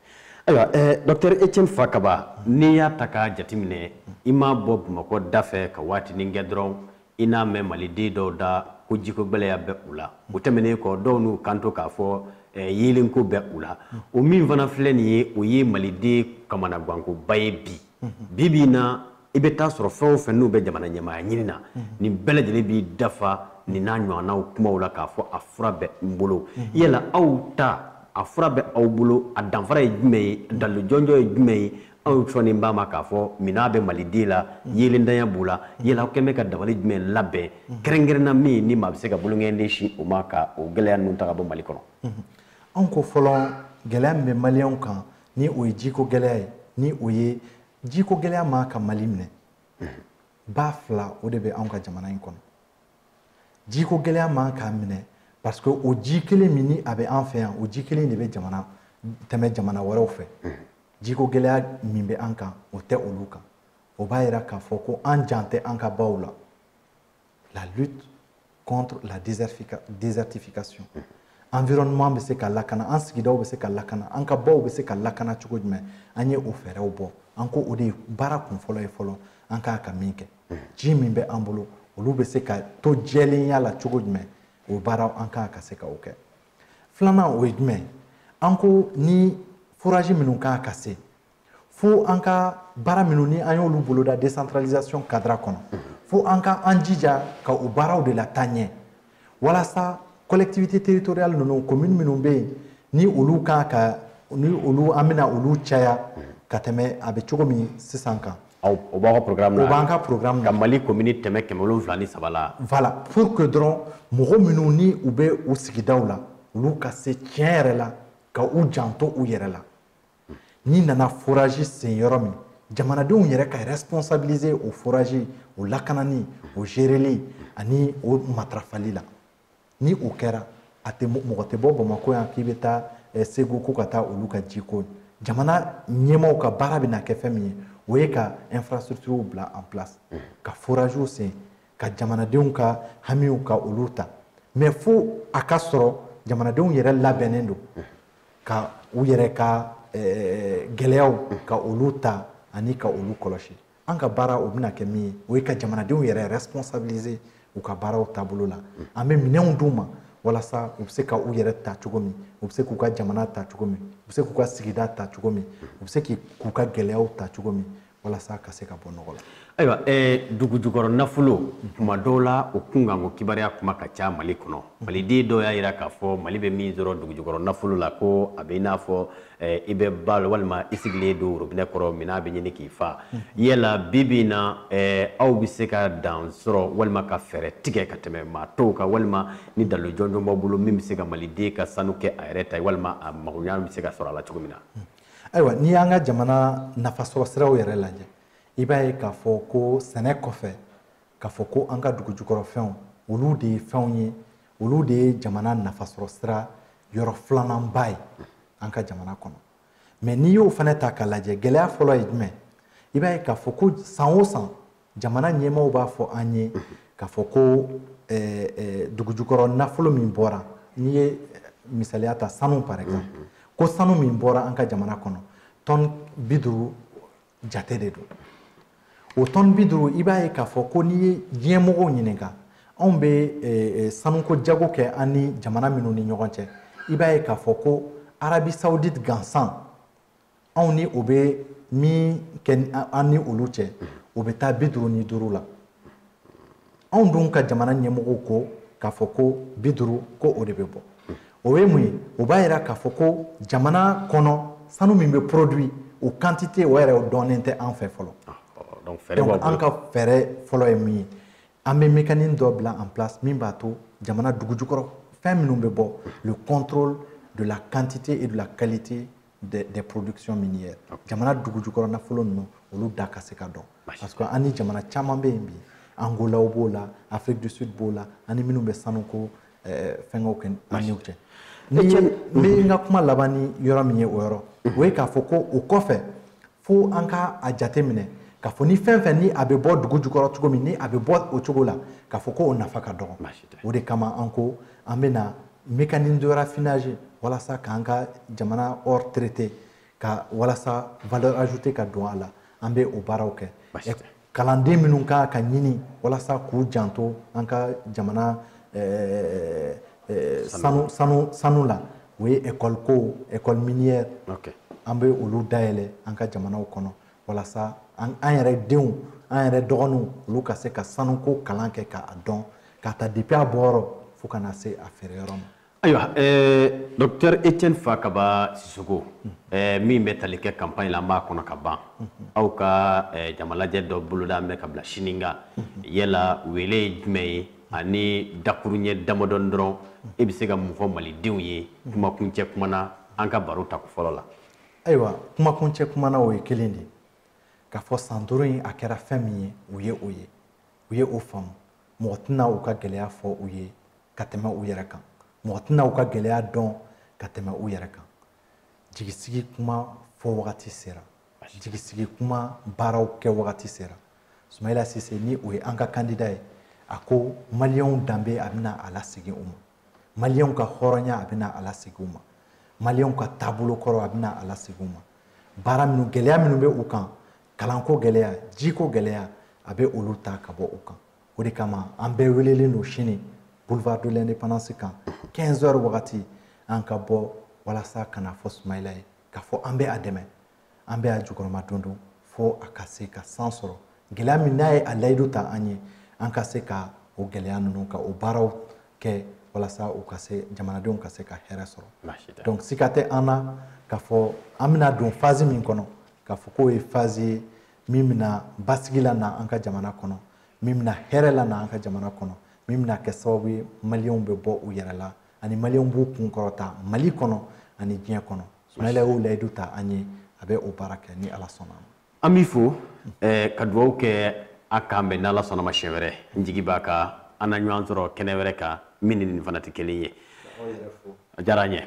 ayiwa eh, docteur etienne fakaba n'i y'a ta k'a jateminɛ i ma bɔ bamakɔ dafɛ ka waatinin kɛ dɔrɔn i n'a mɛn maliden dɔw da ko jiko gɛlɛya bɛ u la o tɛmɛnen kɔ dɔw n'u kanto k'a fɔ eh, yeelenko bɛ u la o min fana filɛ nin ye o ye maliden kamanagwankoba ye bi bi bi na i bɛ taa sɔrɔ fɛn o fɛn n'u bɛ jamana ɲɛmaaya ɲini na nin bɛɛ lajɛlen b'i dafa nin n'a ɲɔgɔnnaw kumaw la k'a fɔ a fura bɛ n bolo yala aw ta a fura bɛ aw bolo a danfara ye jumɛn ye dalilu jɔnjɔn ye jumɛn ye aw sɔnnen b'a ma k'a fɔ minnɔgɔ bɛ maliden la yeelentanya b'u la yala aw kɔni bɛ ka dabali jumɛn labɛn kɛrɛnkɛrɛnna min ni maa bɛ se ka bolonkɔni sin o ma ka o gɛlɛya ninnu ta ka bɔ mali kɔnɔ anw ko fɔlɔ gɛlɛya min bɛ maliyɛnw kan ni o ye jiko gɛlɛya ye ni o ye jiko gɛlɛya man kan ka mali minɛ ba fila o de bɛ anw ka jamana in kɔnɔ jiko gɛlɛya man kan k'a minɛ parce que o ji kelen min ni a bɛ an fɛ yan o ji kelen de bɛ jamana tɛmɛ jamana wɛrɛw fɛ jiko gɛlɛya min bɛ an kan o tɛ olu kan o b'a yira k'a fɔ ko an jan tɛ an ka baw la la lutte contre la désertification mm-hmm. environnement bɛ se ka lakana an sigidaw bɛ se ka lakana an ka baw bɛ se ka lakana cogo jumɛn an ye o fɛɛrɛw bɔ an ko o de ye baara kun fɔlɔ ye fɔlɔ an ka kan ka min kɛ mm-hmm. ji min bɛ an bolo olu bɛ se ka to jɛlenya la cogo jumɛn o baaraw an ka kan ka se ka o kɛ filanan o ye jumɛn an ko ni foraji minnu ka kan ka sen fo an ka baara minnu ni an y'olu boloda décentralisation cadre kɔnɔ fo an ka an jija ka o baaraw de lataa ɲɛ walasa collectivité territoriale ninnu commune minnu bɛ yen ni olu kan ka ni olu an bɛna olu caya ka tɛmɛ a bɛ cogo min sisan kan o b'aw ka programme na o b'an ka programme na ka mali commune tɛmɛ kɛmɛ wolonwula ni saba la voilà pour que dɔrɔn mɔgɔ minnu ni u bɛ u sigidaw la olu ka se tiɲɛ yɛrɛ la ka u janto u yɛrɛ la n'i nana foraji sen yɔrɔ min jamanadenw yɛrɛ ka responsabiliser o foraji o lakanani o gereli ani o matarafali la ni o kɛra a tɛ mɔgɔ tɛ bɔ bamakɔ yan k'i bɛ taa eh, segu ko ka taa olu ka jiko jamana ɲɛmaaw ka baara bɛna kɛ fɛn min ye o ye ka infrastructure bila en place ka forajiw sen ka jamanadenw ka hamiw ka olu ta mais fo a ka sɔrɔ jamanadenw yɛrɛ labɛnnen don ka u yɛrɛ ka gɛlɛyaw ka olu ta ani ka olu kɔlɔsi an ka baara o bɛna kɛ min ye o ye ka jamanadenw yɛrɛ responsabiliser u ka baaraw taabolo la an bɛ minɛnw d'u ma walasa u bɛ se ka u yɛrɛ ta cogo min u bɛ se k'u ka jamana ta cogo min u bɛ se k'u ka sigida ta cogo min u bɛ se k'u ka gɛlɛyaw ta cogo min walasa ka se ka bɔ nɔgɔ la ayiwa eh, dugu jukɔrɔ nafolo tuma dɔw la o kunkanko kibaruya kuma ka ca mali kɔnɔ maliden dɔw y'a yira k'a fɔ mali bɛ min sɔrɔ dugu jukɔrɔ nafolo la ko a bɛ i n'a fɔ eh, i bɛ ba la walima i sigilen don worobinɛ kɔrɔ minnɔgɔ bɛ ɲini k'i faga yala bi bi in na eh, aw bɛ se ka dan sɔrɔ walima ka fɛɛrɛ tigɛ ka tɛmɛ maa tɔw kan walima ni dalilu jɔnjɔn b'aw bolo min bɛ se ka maliden ka sanu kɛ a yɛrɛ ta ye walima a magoɲa bɛ se ka sɔrɔ a la cogo min na ayiwa n'i y'an ka jamana nafasɔrɔ siraw yɛrɛ lajɛ i b'a ye k'a fɔ ko sɛnɛ kɔfɛ k'a fɔ ko an ka dugu jukɔrɔ fɛnw olu de ye fɛnw ye olu de ye jamana nafasɔrɔ sira yɔrɔ filananba ye an ka jamana kɔnɔ mɛ n'i y'o fana ta k'a lajɛ gɛlɛya fɔlɔ ye jumɛn i b'a ye k'a fɔ ko san o san jamana ɲɛmɔgɔw b'a fɔ an ye k'a fɔ ko eh, eh, dugujukɔrɔ nafolo min bɔra n'i ye eh, misaliya ta sanu par exemple ko sanu min bɔra an ka jamana kɔnɔ tɔn bi duuru jate de don o tɔn bi duuru i b'a ye k'a fɔ ko n'i ye diɲɛ mɔgɔw ɲininka anw bɛ sanuko jago kɛ an ni jamana minnu ni ɲɔgɔn cɛ i b'a ye k'a fɔ ko arabi saudite gansan anw ni o bɛ min kɛ an ni olu cɛ o bɛ taa bi duuru ni duuru la anw dun ka jamana ɲɛmɔgɔw ko k'a fɔ ko bi duuru ko o de bɛ bɔ o ye mun ye o b'a yira k'a fɔ ko jamana kɔnɔ sanu min bɛ produit o quantité o yɛrɛ dɔnnen tɛ an fɛ fɔlɔ ah, donc an ka fɛɛrɛ fɔlɔ ye min ye an bɛ mécanisme dɔ bila en place min b'a to jamana dugujukɔrɔ fɛn minnu bɛ bɔ le contrôle de la quantité et de la qualité des, des productions minières jamana dugujukɔrɔ nafolo ninnu olu da ka se ka dɔn parce que an ni jamana caman bɛ yen bi angolaw b'o la afrique du sud b'o la an ni minnu bɛ sanuko eh, fɛngɛw kɛ an n'u cɛ ni n bɛ n ka kuma laban ni yɔrɔ min ye o yɔrɔ o ye k'a fɔ ko o kɔfɛ fo an ka a jate minɛ k'a fɔ ni fɛn fɛn ni a bɛ bɔ dugujukɔrɔ cogo min ni a bɛ bɔ o cogo la k'a fɔ ko o nafa ka dɔgɔ o de kama an ko an bɛna mécanisme de raffinage walasa k'an ka jamana or traité ka walasa valeur ajoutée ka don a la an bɛ o baaraw kɛ kalanden minnu ka kan ka ɲini walasa k'u janto an ka jamana eh, eh, sanu sanu sanu la o ye ekɔli ko ekɔli minière an bɛ olu dayɛlɛ an ka jamanaw kɔnɔ walasa an yɛrɛ denw an yɛrɛ dɔgɔninw olu ka se ka sanuko kalan kɛ k'a dɔn k'a ta depuis a bɔyɔrɔ fo ka na se a feere yɔrɔ ma ayiwa dɔkitɛri etienne fakaba sisoko min bɛ tali kɛ kanpaɲi la an b'a kɔnɔ kaban aw ka jamalajɛ dɔ bolodalen bɛ ka bila sini kan yala wele ye jumɛn ye ani dakuruɲɛ damadɔni dɔrɔn e bɛ se ka mun fɔ malidenw ye kumakuncɛ kuma na an ka baro tako fɔlɔ la ayiwa kumakuncɛ kuma na o ye kelen de ye k'a fɔ san duuru in a kɛra fɛn min ye u ye o ye u ye o faamu mɔgɔ tɛna u ka gɛlɛya fɔ u ye ka tɛmɛ u yɛrɛ kan mɔgɔ tɛna u ka gɛlɛya dɔn ka tɛmɛ u yɛrɛ kan jigisigi kuma fɔ wagati sera jigisigi kuma baaraw kɛ wagati sera sumayila sise ni o ye an ka kandida ye a ko maliyɛnw danbe a bɛna a lasegin u ma maliyɛnw ka hɔrɔnya a bɛna a lasegin u ma maliyɛnw ka taabolo kɔrɔ a bɛna a lasegin u ma baara minnu gɛlɛya minnu bɛ u kan kalanko gɛlɛya jiko gɛlɛya a bɛ olu ta ka bɔ u kan o de kama an bɛɛ welelen don sini boulevard de l'indépendance kan 15 heures wagati an ka bɔ walasa ka n'a fɔ sumayila ye k'a fɔ an bɛ a dɛmɛ an bɛ a jukɔrɔmadondon fo a ka se ka san sɔrɔ gɛlɛya min n'a ye a layidu ta an ye an ka se ka o gɛlɛya ninnu ka o baaraw kɛ walasa u ka se jamanadenw ka se ka hɛrɛ sɔrɔ donc sika tɛ an na k'a fɔ an bɛna don fazi min kɔnɔ k'a fɔ k'o ye fazi ye min bɛna basigi lana an ka jamana kɔnɔ min bɛna hɛrɛ lana an ka jamana kɔnɔ min bɛna kɛ sababu ye maliyɛnw bɛ bɔ u yɛrɛ la ani maliyɛnw b'u kun kɔrɔta mali kɔnɔ ani diɲɛ kɔnɔ sumayila y'o layidu ta an ye a bɛ o baara kɛ ni ala sɔnna an b'i fo eh, ka dugawu kɛ a k'an bɛn n'ala sɔnna ma siɲɛ wɛrɛ n jigi b'a kan an na ɲɔgɔn sɔrɔ kɛnɛ wɛrɛ kan min ni nin fana tɛ kelen ye a diyara an ye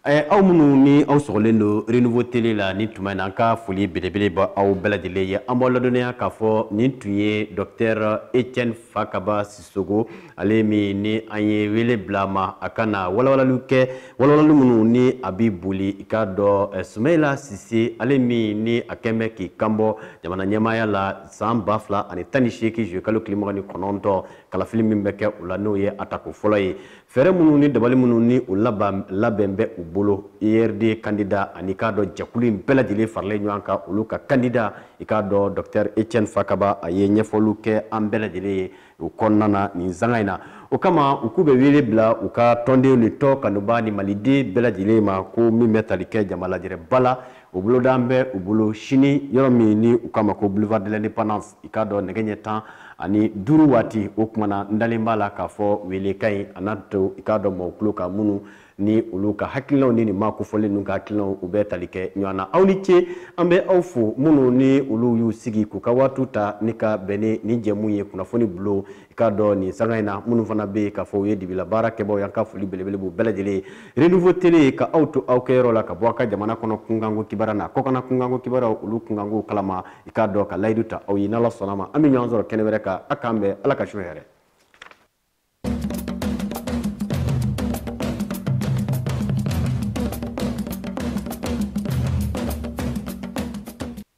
Eh, aw minnu ni aw sɔgɔlen don renouveau tele la nin tuma in na an ka foli belebele b'aw bɛɛ lajɛlen ye an b'aw ladɔnniya k'a fɔ nin tun ye dɔktɛr etiɛne fakaba sisoko ale min ni an ye wele bila ma a ka na walawalaliw kɛ walawalali minnu ni a bɛ boli i k'a dɔn eh, sumayila sise ale min ni a kɛn bɛ k'i kanbɔ jamana ɲɛmaaya la san ba fila ani tan ni seegin zuyekalo tile mugan ni kɔnɔntɔn kalafili min bɛ kɛ o la n'o ye a tako fɔlɔ ye fɛɛrɛ minnu ni dabali minnu ni u labɛn bɛ u bolo urd kandida ani i k'a dɔn jɛkulu in bɛɛ lajɛlen faralen ɲɔgɔn kan olu ka kandida i k'a dɔn dɔktɛr etiɛne fakaba a ye ɲɛfɔliw kɛ an bɛɛ lajɛlen ye o kɔnɔna na nin sanga in na o kama u k'u bɛ wele bila u ka tɔndenw ni tɔn kanubaa ni maliden bɛɛ lajɛlen ma ko min bɛ tali kɛ jama lajɛrɛba la o bolodalen bɛ u bolo sini yɔrɔ min ni u k'a ma ko boulevard de l'indépendance i k'a dɔn nɛgɛ ɲɛ tan ani duuru waati o kuma na n dalen b'a la k'a fɔ welekan in a n'a to i k'a dɔn mɔgɔ tulo kan minnu ni olu ka hakilinaw ni nin maa kofɔlen ninnu ka hakilinaw u bɛ tali kɛ ɲɔgɔn na aw ni ce an bɛ aw fo minnu ni olu y'u sigi k'u ka waatiw ta ni k'a bɛn ni nin jɛmu ye kunnafoni bulon i k'a dɔn nin sanga in na minnu fana bɛ yen k'a fɔ u ye dibila baarakɛbaaw ye an ka foli belebele b'u bɛɛ lajɛlen ye renouveau tele ka aw to aw kɛyɔrɔ la ka bɔ aw ka jamana kɔnɔ kunkanko kibaruya n'a kɔkanna kunkanko kibaruyaw olu kunkankow kalama i k'a dɔn ka layidu ta aw ye n'ala sɔnna ma an bɛ ɲɔgɔn sɔrɔ kɛnɛ wɛrɛ kan a k'an bɛn ala ka su hɛrɛ